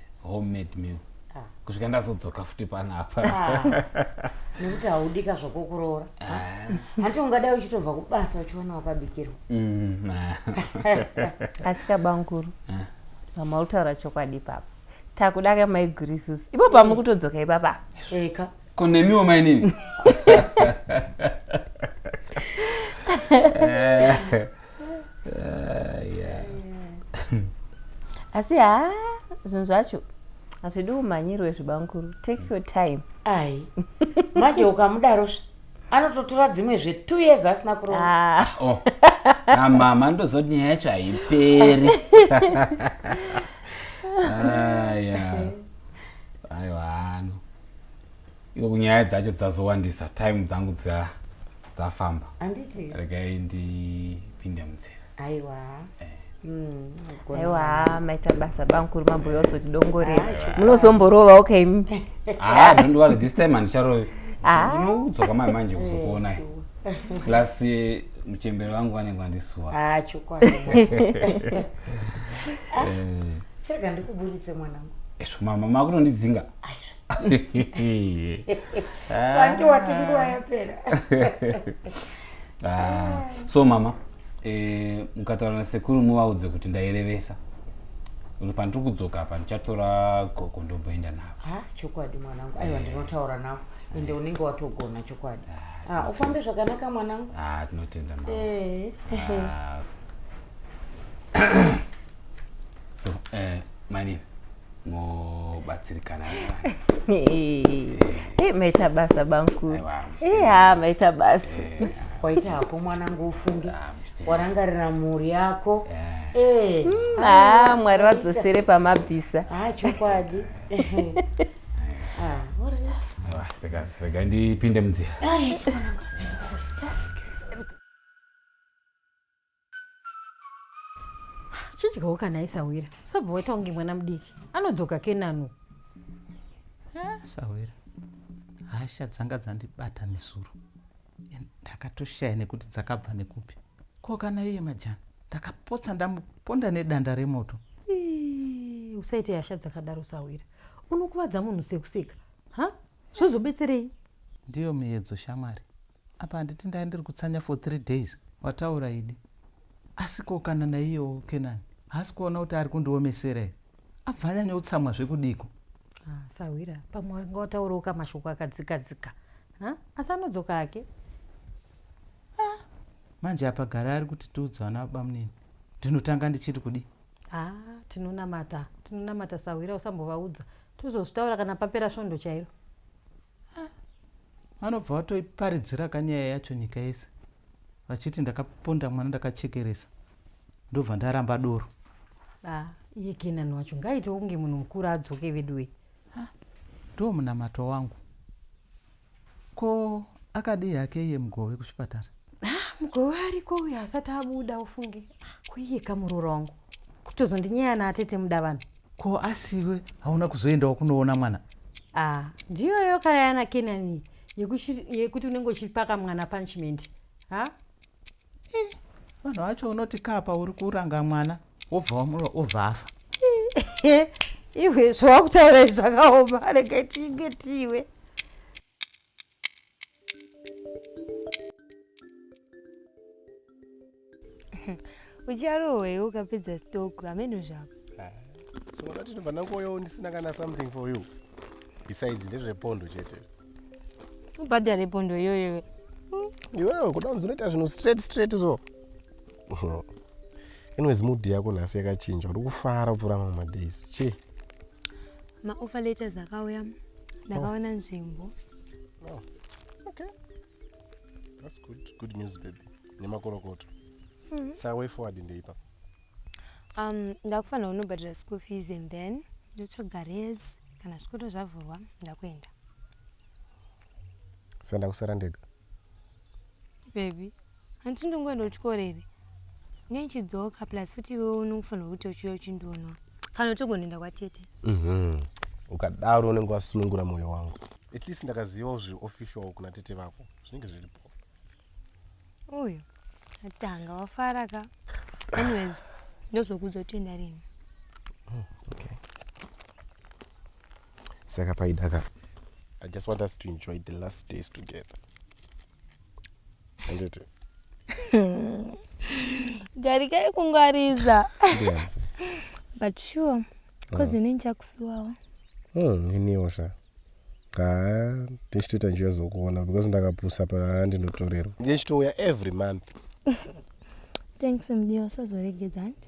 homemade meal ah. kusvika ndazodzoka futi panapa ah. nekuti haudika zvokokuroora ah. hanti ungadai uchitobva kubasa uchiona wakabikirwa mm, asi kabanguru pamautaura chokwadi papa takuda kamaigurisusu ipo pamwe kutodzoka ipapa eka ko nemiwo mainini ah, yeah. asi haa zvinhu zvacho hazvidi umhanyirwe zvibankuru take your time ai manje ukamudaro zve anototora dzimwe zve two years asina kurova ah. ah, oh. ah, mama ndozoti nyaya yacho haiperi aiwa hano Iwe nyaya dzacho dzazowandisa time dzangu dza dzafamba. Anditi. Regai ndipinde munzira. Aiwa. Eh. Mm, aiwa maita basa bamkuru mambo yose tidongorera ah, munozomborova okay ah don't worry this time andicharovi ah. ndinodzoka mai manje kuzokuonai eh, plus eh, muchembere wangu vanenge vandisuwa ah, chokwadi chega ndikuburitse mwanangu esvo mama makutondidzinga vange wati nguva yapera ah, so mama eh, mukataura nasekuru muvaudze kuti ndairevesa kuti pandiri kudzoka apa ndichatora gogo ndomboenda navo ha chokwadi mwanangu aiwa eh. ndinotaura navo ende unenge watogona chokwadi ah, ah, ufambe zvakanaka mwanangu ah, tinotenda mama eh. so eh, mainini mobatsirikana eh, maita basa bankuru ha maita basa eh, waita hako mwanangu ufunge ah, warangarira mhuri yako eh. mm, ah, mwari vadzosere pamabvisa ah, chokwadi rega ndipinde munzira chidyawo kana aisahwira usabva waita kunge mwana mudiki anodzoka kenanu ah, sahwira hasha dzanga dzandibata nezuro ndakatoshaya nekuti dzakabva nekupi ko kana iye majana ndakapotsa ndamuponda nedanda remoto usaite hasha dzakadaro sahwira unokuvadza munhu sekuseka ha zvozobetserei ndiyo miyedzo shamwari Apa handiti ndanga ndiri kutsanya for three days. Wataura idi. Asi ko kana naiyewo Kenani haasi kuona kuti ari kundiomesera here? Abva anyanya kutsamwa zvekudiko? Ah, sahwira pamwe wanga wataurawo kamashoko akadzika dzika. Ha? Asi anodzoka hake. Ah, manje apa gara ari kuti tiudzwa nabamunini. Ndinotanga ndichiri kudi. Ah, tinonamata. Tinonamata sahwira usambovaudza. Tozozvitaura kana papera svondo chairo. vanobva vatoiparidzira kanyaya yacho nyika yese vachiti ndakaponda mwana ndakachekeresa ndobva ndaramba doro ah, iye kenani wacho ngaitewo kunge munhu mukuru adzoke veduwe ah, ndo munamato wangu ko akadii hake iye mugove kuchipatara ah, mugove ariko uyo asati abuda ufunge ko iye kamuroora wangu kutozondinyaya naatete muda vanhu Ko asiwe hauna kuzoendawo kunoona mwana? Ah, ndiyoyo kana yana Kenani yekuti unenge uchipaka mwana punishment. Ha? Eh, vanhu vacho unoti kapa uri kuranga mwana wobva wamura wobva afa. Iwe zvawakutaura zvakaoma rega tingwe tiwe. ucharohwei ukapedza stock hameno zvako ah, so wakati ndobva ndakuoyawo ndisina kana something for you besides ndezvepondo chete ubhadhare pondo iyoyo hmm, iwewe kuda kunzi unoita zvinhu straight straight so anyways mood yako nhasi yakachinja uri kufara kupfuura mamwe madays chii maoffer letters akauya ndakaona oh. nzvimbo oh. okay. That's good. Good news baby nemakorokoto mm -hmm. sa way forward ndeipa um, ndakufanira unobhadhira school fees and then ndotsvaga res kana zvikoro zvavhurwa ndakuenda sandakusara ndega Baby, hanti ndingoenda kuchikoro here? Nei chidzoka plus futi iwewe unofanirwa kuti uchiuya uchindiona. Kana utogonoenda kwatete. Mhm. Ukadaro unenge wasunungura moyo wangu. At least ndakaziva zvi official kuna tete vako. Zvinenge zviripo. Uyu atanga wafara ka. Anyways, ndozokudza kuti enda rini. Mm, okay. saka paidaka i just want us to enjoy the last days together anditi garikai kungwariza yes. but sure bcause ini ndichakusuwawo Hmm, iniwo sha haa ndichitoita njiva zokuona because ndakapusa paa ndinotorerwa ndichitouya every month thanks mdiwa usazoregedza handi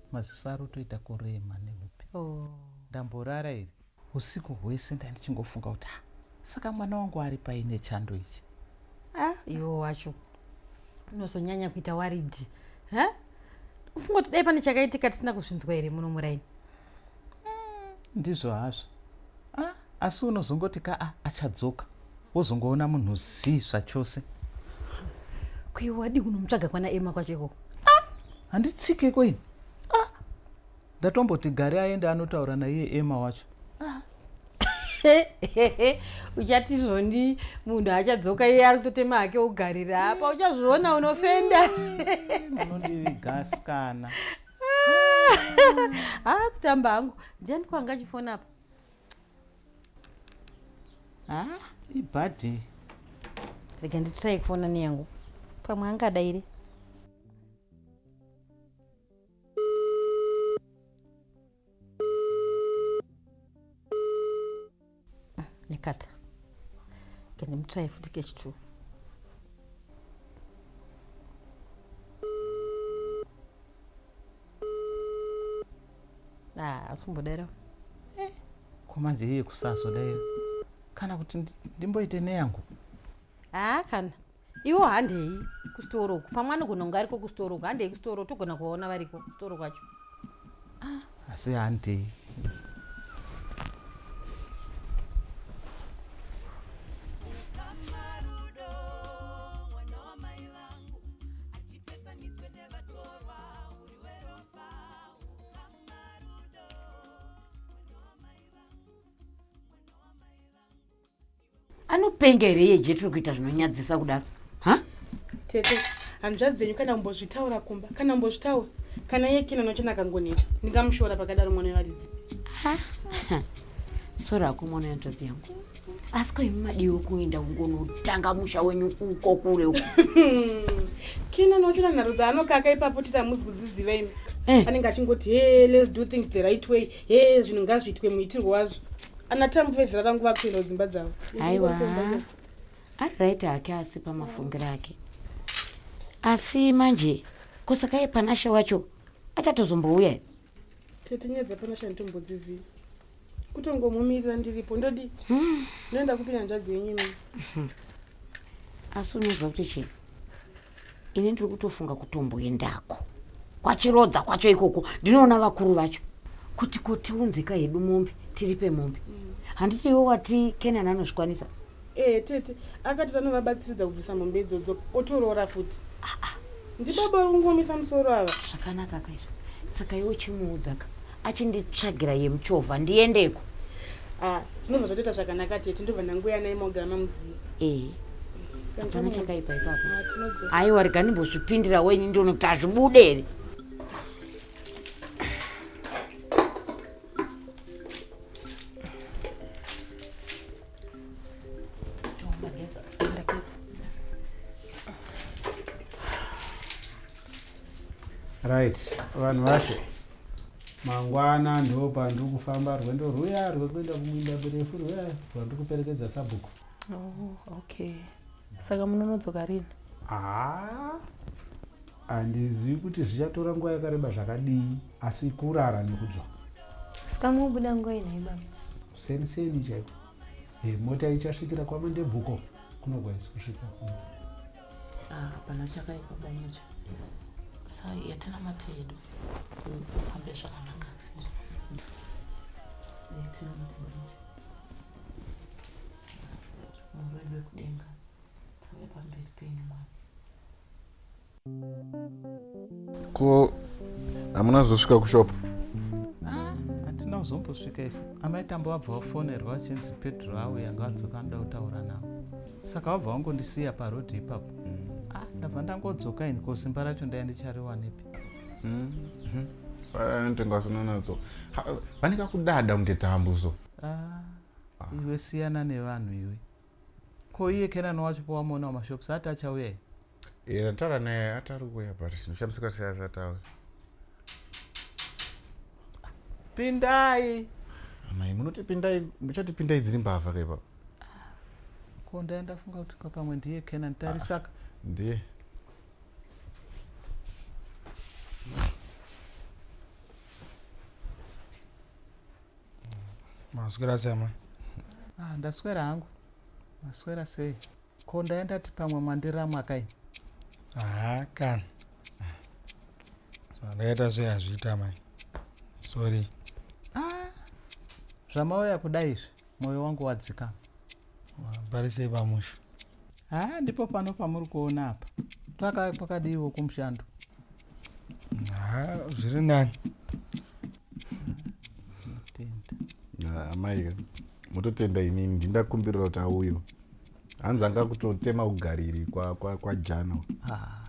Maziso arotoita kurema nehope. Ndamborara here? Husiku hwese ndandichingofunga kuti ah saka mwana wangu ari pai nechando ichi. Ah, iwo wacho unozonyanya kuita waridhi. Ha? Ufunga kuti dai pane chakaitika tisina kuzvinzwa here muno muraini? Ndizvo hazvo. Ah, Asi unozongoti kaa achadzoka wozongoona munhu zii zvachose. Ko iwe wadii kunomutsvaga kwana Emma kwacho ikoko? Handitsike ko ini. Ah, ndatomboti gari aende anotaura naiye Emma wacho. uchati zvoni munhu achadzoka iye ari kutotema hake ugarira apa uchazviona unofenda munondivigasikana haa ah, kutamba hangu ndiani kwanga achifona apa ha ibhadhe rega nditrai kufona neyangu pamwe angada iri nekata kandimutrai futi kechitwo ah, asi kumbodaira eh, ko manje iye kusazodaira kana kuti ndimboite neyangu haa kana iwo handei kusitoro uku pamwe anogona kunge ariko kusitoro uku handei kusitoro togona kuvaona variko kusitoro kwacho ah, asi handei anopenga here iye jetro kuita zvinonyadzisa kudaro ha tete hanzvadzi dzenyu kana kumbozvitaura kumba kana kumbozvitaura kana iye kina nochena akangoneta ndingamushora pakadaro mwana wevaridzi sori hako mwana yanzvadzi yangu asi ko imi madiwo kuenda kungonotanga musha wenyu uko kure uko kina nochona nharo dzaanokaka ipapo tita muzi kuziziva imi eh. anenge achingoti he let's do things the right way he zvinhu ngazviitwe muitirwo wazvo ana tambu vezera rangu vakuenda kudzimba dzavo aiwa ari right hake asi pamafungiro ake asi manje kosaka yepanashe wacho achatozombouya Tete nyaya dzapanashani tombodziziva kutongomumirira ndiripo ndodi hmm. ndoenda kupi nyanzvadzi yenyu imi hmm. asi unoziva kuti chii ini ndiri kutofunga kutomboendako kwachirodza kwacho ikoko ndinoona vakuru vacho kuti kotiunzika hedu mombe tiripe mombe hmm. handiti iwo wati kenani anozvikwanisa Ehe tete akati vanovabatsiridza kubvisa mombe idzodzo otoroora futi ah, ah. ndibaba uri kungomisa musoro ava zvakanaka kaizvo saka iwe uchimuudzaka achinditsvagira yemuchovha ndiendeko ah, zvinobva ah, zvatoita zvakanaka tete ndobva ndanguya naye mogara mamuzivi ehe hapana chakaipa ipapo aiwa rega ndimbozvipindira wenyu ndiono kuti hazvibude here right vanhu vashe mangwana ndo pandiri kufamba rwendo rwuya rwekuenda kumwinda mirefu rwuya rwandiri kuperekedza sabhuku oh, okay saka munonodzoka rini haa handizivi kuti zvichatora nguva yakareba zvakadii asi kurara nekudzoka saka mubuda nguva inai baba seni seni chaiko e, mota ichasvikira kwamandebvuko kunogwaisi kusvika kuno ah, hapana chakaipa bamucha sa yatina mate yedu tofambe zvakanaka yatina mate bamucha ko hamuna zosvika kushop ah, hatina kuzombosvika isu amai tambo vabva vafonerwa vachinzi pedro avo yanga vadzoka anoda kutaura navo saka vabva vangondisiya parodhi ipapo ah, ndabva ndangodzoka ini ko simba racho ndaya ndichariwanepi mm-hmm. eh, ntenga vasinanadzoka vane kakudada kunge tambuzo Ah, ah. iwe siyana nevanhu iwe ko iye kenani wacho pawamaona wamashops ati achauya iye eh, ndataura naye ati ari kuuya but ndishamisika sei asati auya pindai amai munoti pindai muchati pindai dziri mbavha kaipa ko ndai ndafunga kuti papamwe ndiye kenan tarisaka ah, ndiye Maswera sei amai? Ah, ndaswera hangu. Maswera sei? Ko ndayandati pamwe mwandiramwa kai? Haa kana. Zvandakaita sei hazviita amai. Sorry. Ah, zvamauya kuda izvi, moyo wangu wadzikama. Parisei pamusha? Haa ndipo pano pamuri kuona apa. Paka pakadiiwo kumushando. Haa zviri nani. Tenda. Ah, amai ka mototenda inini ndindakumbirira kuti auyo hanzi anga kutotema ugariri kwajana kwa, kwa jana. Ah.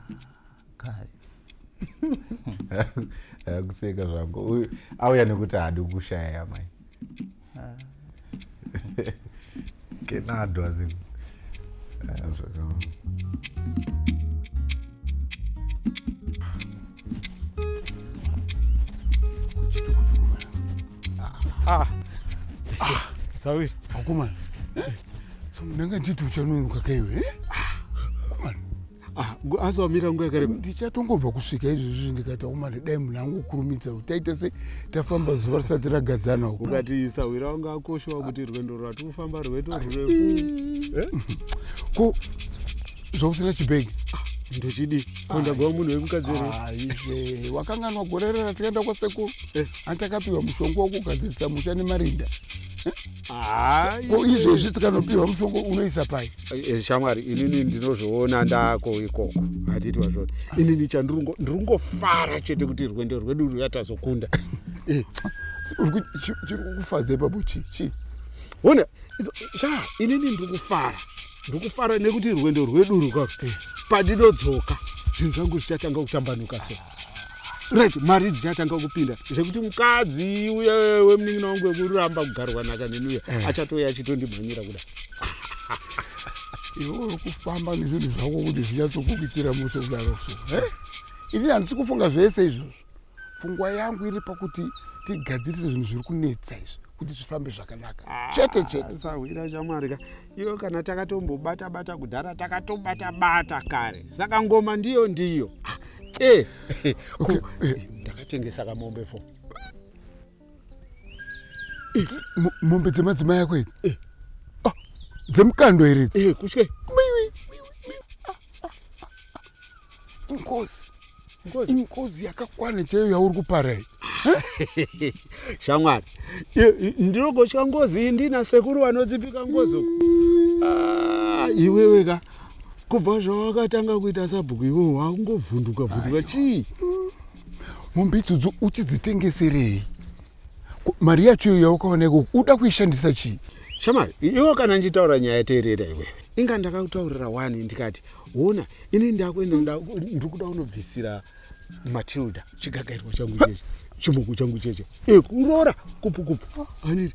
kuseka zvangu auya nekuti haadi kushaya yamai ah. kenadwa zii Ah. Ah. Sawiri. Akumana. So ndanga nditi uchanonoka kaiwe. Eh? Ah, asi wamira nguva yakareba ndichatongobva kusvika izvezvi ndikati aumane dai munhu angu kurumidza kuti taita se tafamba zuva risati ragadzana uku ukati sahwira wanga akoshowa kuti rwendo rwati kufamba rweto rwurefu eh? ko zvausina chibhegi ah, ndochidi kondagwa munhu wemukadzi here wakanganwa gore rera tikaenda kwasekuru eh. antakapiwa mushonga wokugadzirisa musha nemarinda ko izvezvi tikanopiwa mushonga unoisa pai Eh, shamwari inini ndinozviona ndako ikoko handiti wazvona inini chandirungo ndirungofara chete kuti rwendo rwedu ruyatazokunda eh, chiri kukufadza ipapo chi chi hona sha inini ndiri kufara ndiri kufara nekuti rwendo rwedu rukaro eh. pandinodzoka zvinhu zvangu zvichatanga kutambanuka so ah. right mari dzichatanga kupinda zvekuti mukadzi uye wemunin'ina wangu wekuramba kugarwa nhaka neni uye eh. achatouya achitondimhanyira kuda iwe uri kufamba nezvinhu zvako kuti zvinyatsokukuitira mushe kudaro so eh? inini handisi kufunga zvese izvozvo pfungwa yangu iri pakuti tigadzirise zvinhu zviri kunetsa izvi kuti zvifambe zvakanaka ah, chete chete sahwira shamwari ka iyo kana takatombobata bata kudhara takatobata bata kare saka ngoma ndiyo ndiyo ah, eh, eh, okay. Eh, ndakatengesa kamombe fo eh, mombe dzemadzimai ako idzi eh. ah, dzemukando here idzi eh, kutye ingozi Ngozi. ingozi yakakwana chaiyo yauri kuparai shamwari ndinogotya ngozi iyi ndina sekuru vanodzipika ngozi uku Ah, iwewe ka kubva zvawakatanga kuita sabhuku iwewe wakungovhunduka vhunduka chii mombe idzodzo uchidzitengeserei Ko, mari yacho iyo yawakawana ikoko uda kuishandisa chii Shamari, iwo kana ndichitaura nyaya teerera iwewe. Inga ndakakutaurira wani ndikati, ona ini ndakuenda nda- ndiri kuda unobvisira Matilda chigagairwa changu cheche, chimoko changu cheche. Eh, kuroora kupu kupu. Aniti,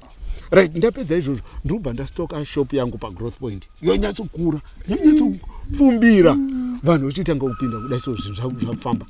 right, ndapedza izvozvo ndiri kubva ndastoka shop yangu paGrowth Point. Yonyatsokura, yonyatsopfumbira. Vanhu vachitanga kupinda kudai so zvinhu zvangu zvakufamba.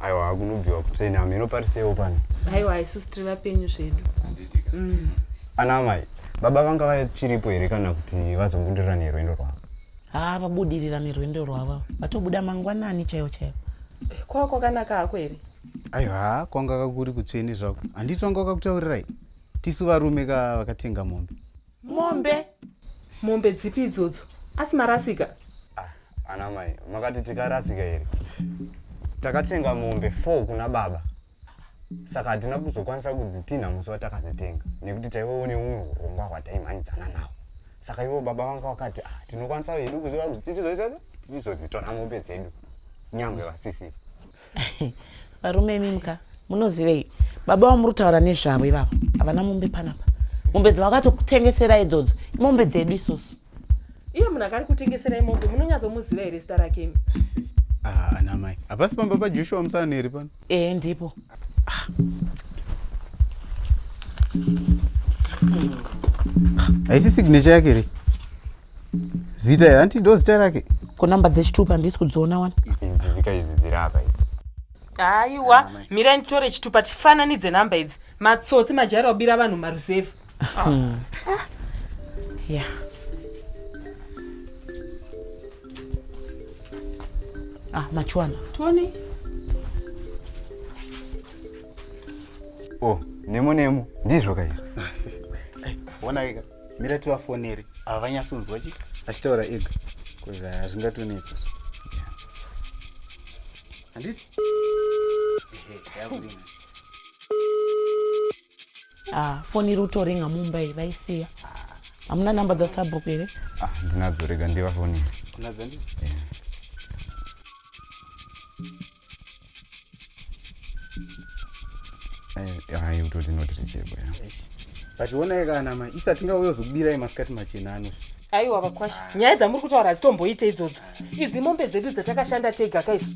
aiwa akunobviwa kutsvene hameno parisewo pano aiwa isusu tiri vapenyu zvedu mm. ana amai baba vanga vachiripo here kana kuti vazombudirira nerwendo rwavo haa vabudirira nerwendo rwavo vatobuda mangwanani chaivo chaivo eh, kwava kwakanaka hako here aiwa kwanga kakuri kutsvene zvako handiti vanga vakakutaurirai tisu varume ka vakatenga mombe mombe mombe dzipi idzodzo asi marasika ah, ana mai makati tikarasika here takatenga mombe four kuna baba saka hatina kuzokwanisa kudzitinha musi watakadzitenga nekuti taive une umwe urongwa hwataimhanyidzana nawo saka ivo baba vanga vakati ah, tinokwanisa hedu kuziva kuti tichizoita tichizodzitora mombe dzedu nyangwe vasisiva varume imi muka munozivei baba vamuri taura nezvavo ivavo havana mombe panapa mombe dzavakatokutengesera idzodzo imombe dzedu isusu iye munhu akari kutengeserai mombe munonyatsomuziva here zita rake imi ah, anamai hapasi pamba pajoshua musaneri pano ee ndipo ah. haisi signature yake here zita here hanti ndo zita rake ko number dzechitupa handisi kudziona wani idzi dzika idzi dziri apa idzi aiwa ah, mira nditore chitupa tifananidze nhamba idzi matsotsi majaira kubira vanhu maruzevha ah. hmm. ah. ya ah machuana tony o oh, nemo nemo ndizvo kaizvo mira tivafonere ava vanyatsonzwa chi achitaura ega bcause hazvingatonetsa so handiti ah, foni iri kutoringa mumba iyi vaisiya hamuna namba dzasabhuku here ah, ndinadzo rega ndivafonere unadzandii hayi utoti inoti richebo ya but wonai kana mai isati nga uyozokubirai masikati machena anosi aiwa vakwasha nyaya dzamuri kutaura hadzitomboite idzodzo idzi mombe dzedu dzatakashanda tega kaisu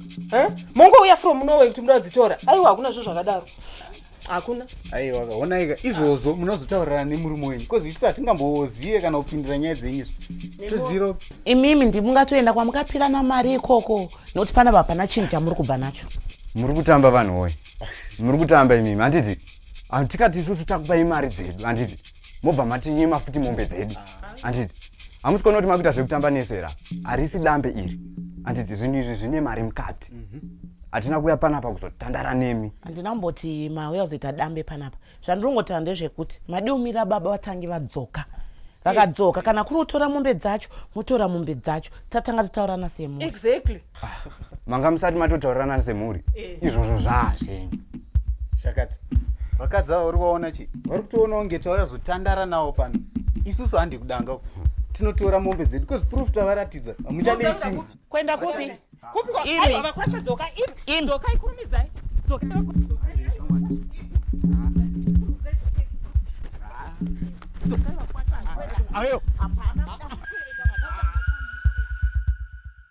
mongouya from norway kuti muda kudzitora aiwa hakuna zvo zvakadaro hakuna aiwa kaonaika izvozvo munozotaurirana nemurume wenyu bcause isu hatingambozive kana kupindira nyaya dzenyu toziro imimi ndi mungatoenda kwamukapirana mari ikoko nokuti pana vapana chinhu chamuri kubva nacho muri kutamba vanhu woye muri kutamba imimi handiti tikati isusu takupai mari dzedu handiti mobva matinyima futi mombe dzedu handiti hamusi kuona kuti makuita zvekutamba nesera harisi dambe iri handiti zvinhu izvi zvine mari mukati hatina kuya panapa kuzotandara nemi handina kumboti mauya kuzoita dambe panapa zvandiri kungotaura ndezvekuti madi umira baba vatangi vadzoka vakadzoka kana kuri kutora mombe dzacho motora mombe dzacho tatanga tataurana semunhu exactly Ah, manga musati matotaurirana semhuri eh. izvozvo zvaa zvenyu zvakati vakadzi ava uri vaona chii vari kutoonawo ngetauya zotandara nawo pano isusu handi kudanga uku tinotora mombe dzedu bcause proof tavaratidza hamuchadei chimwe kuenda kupi ayo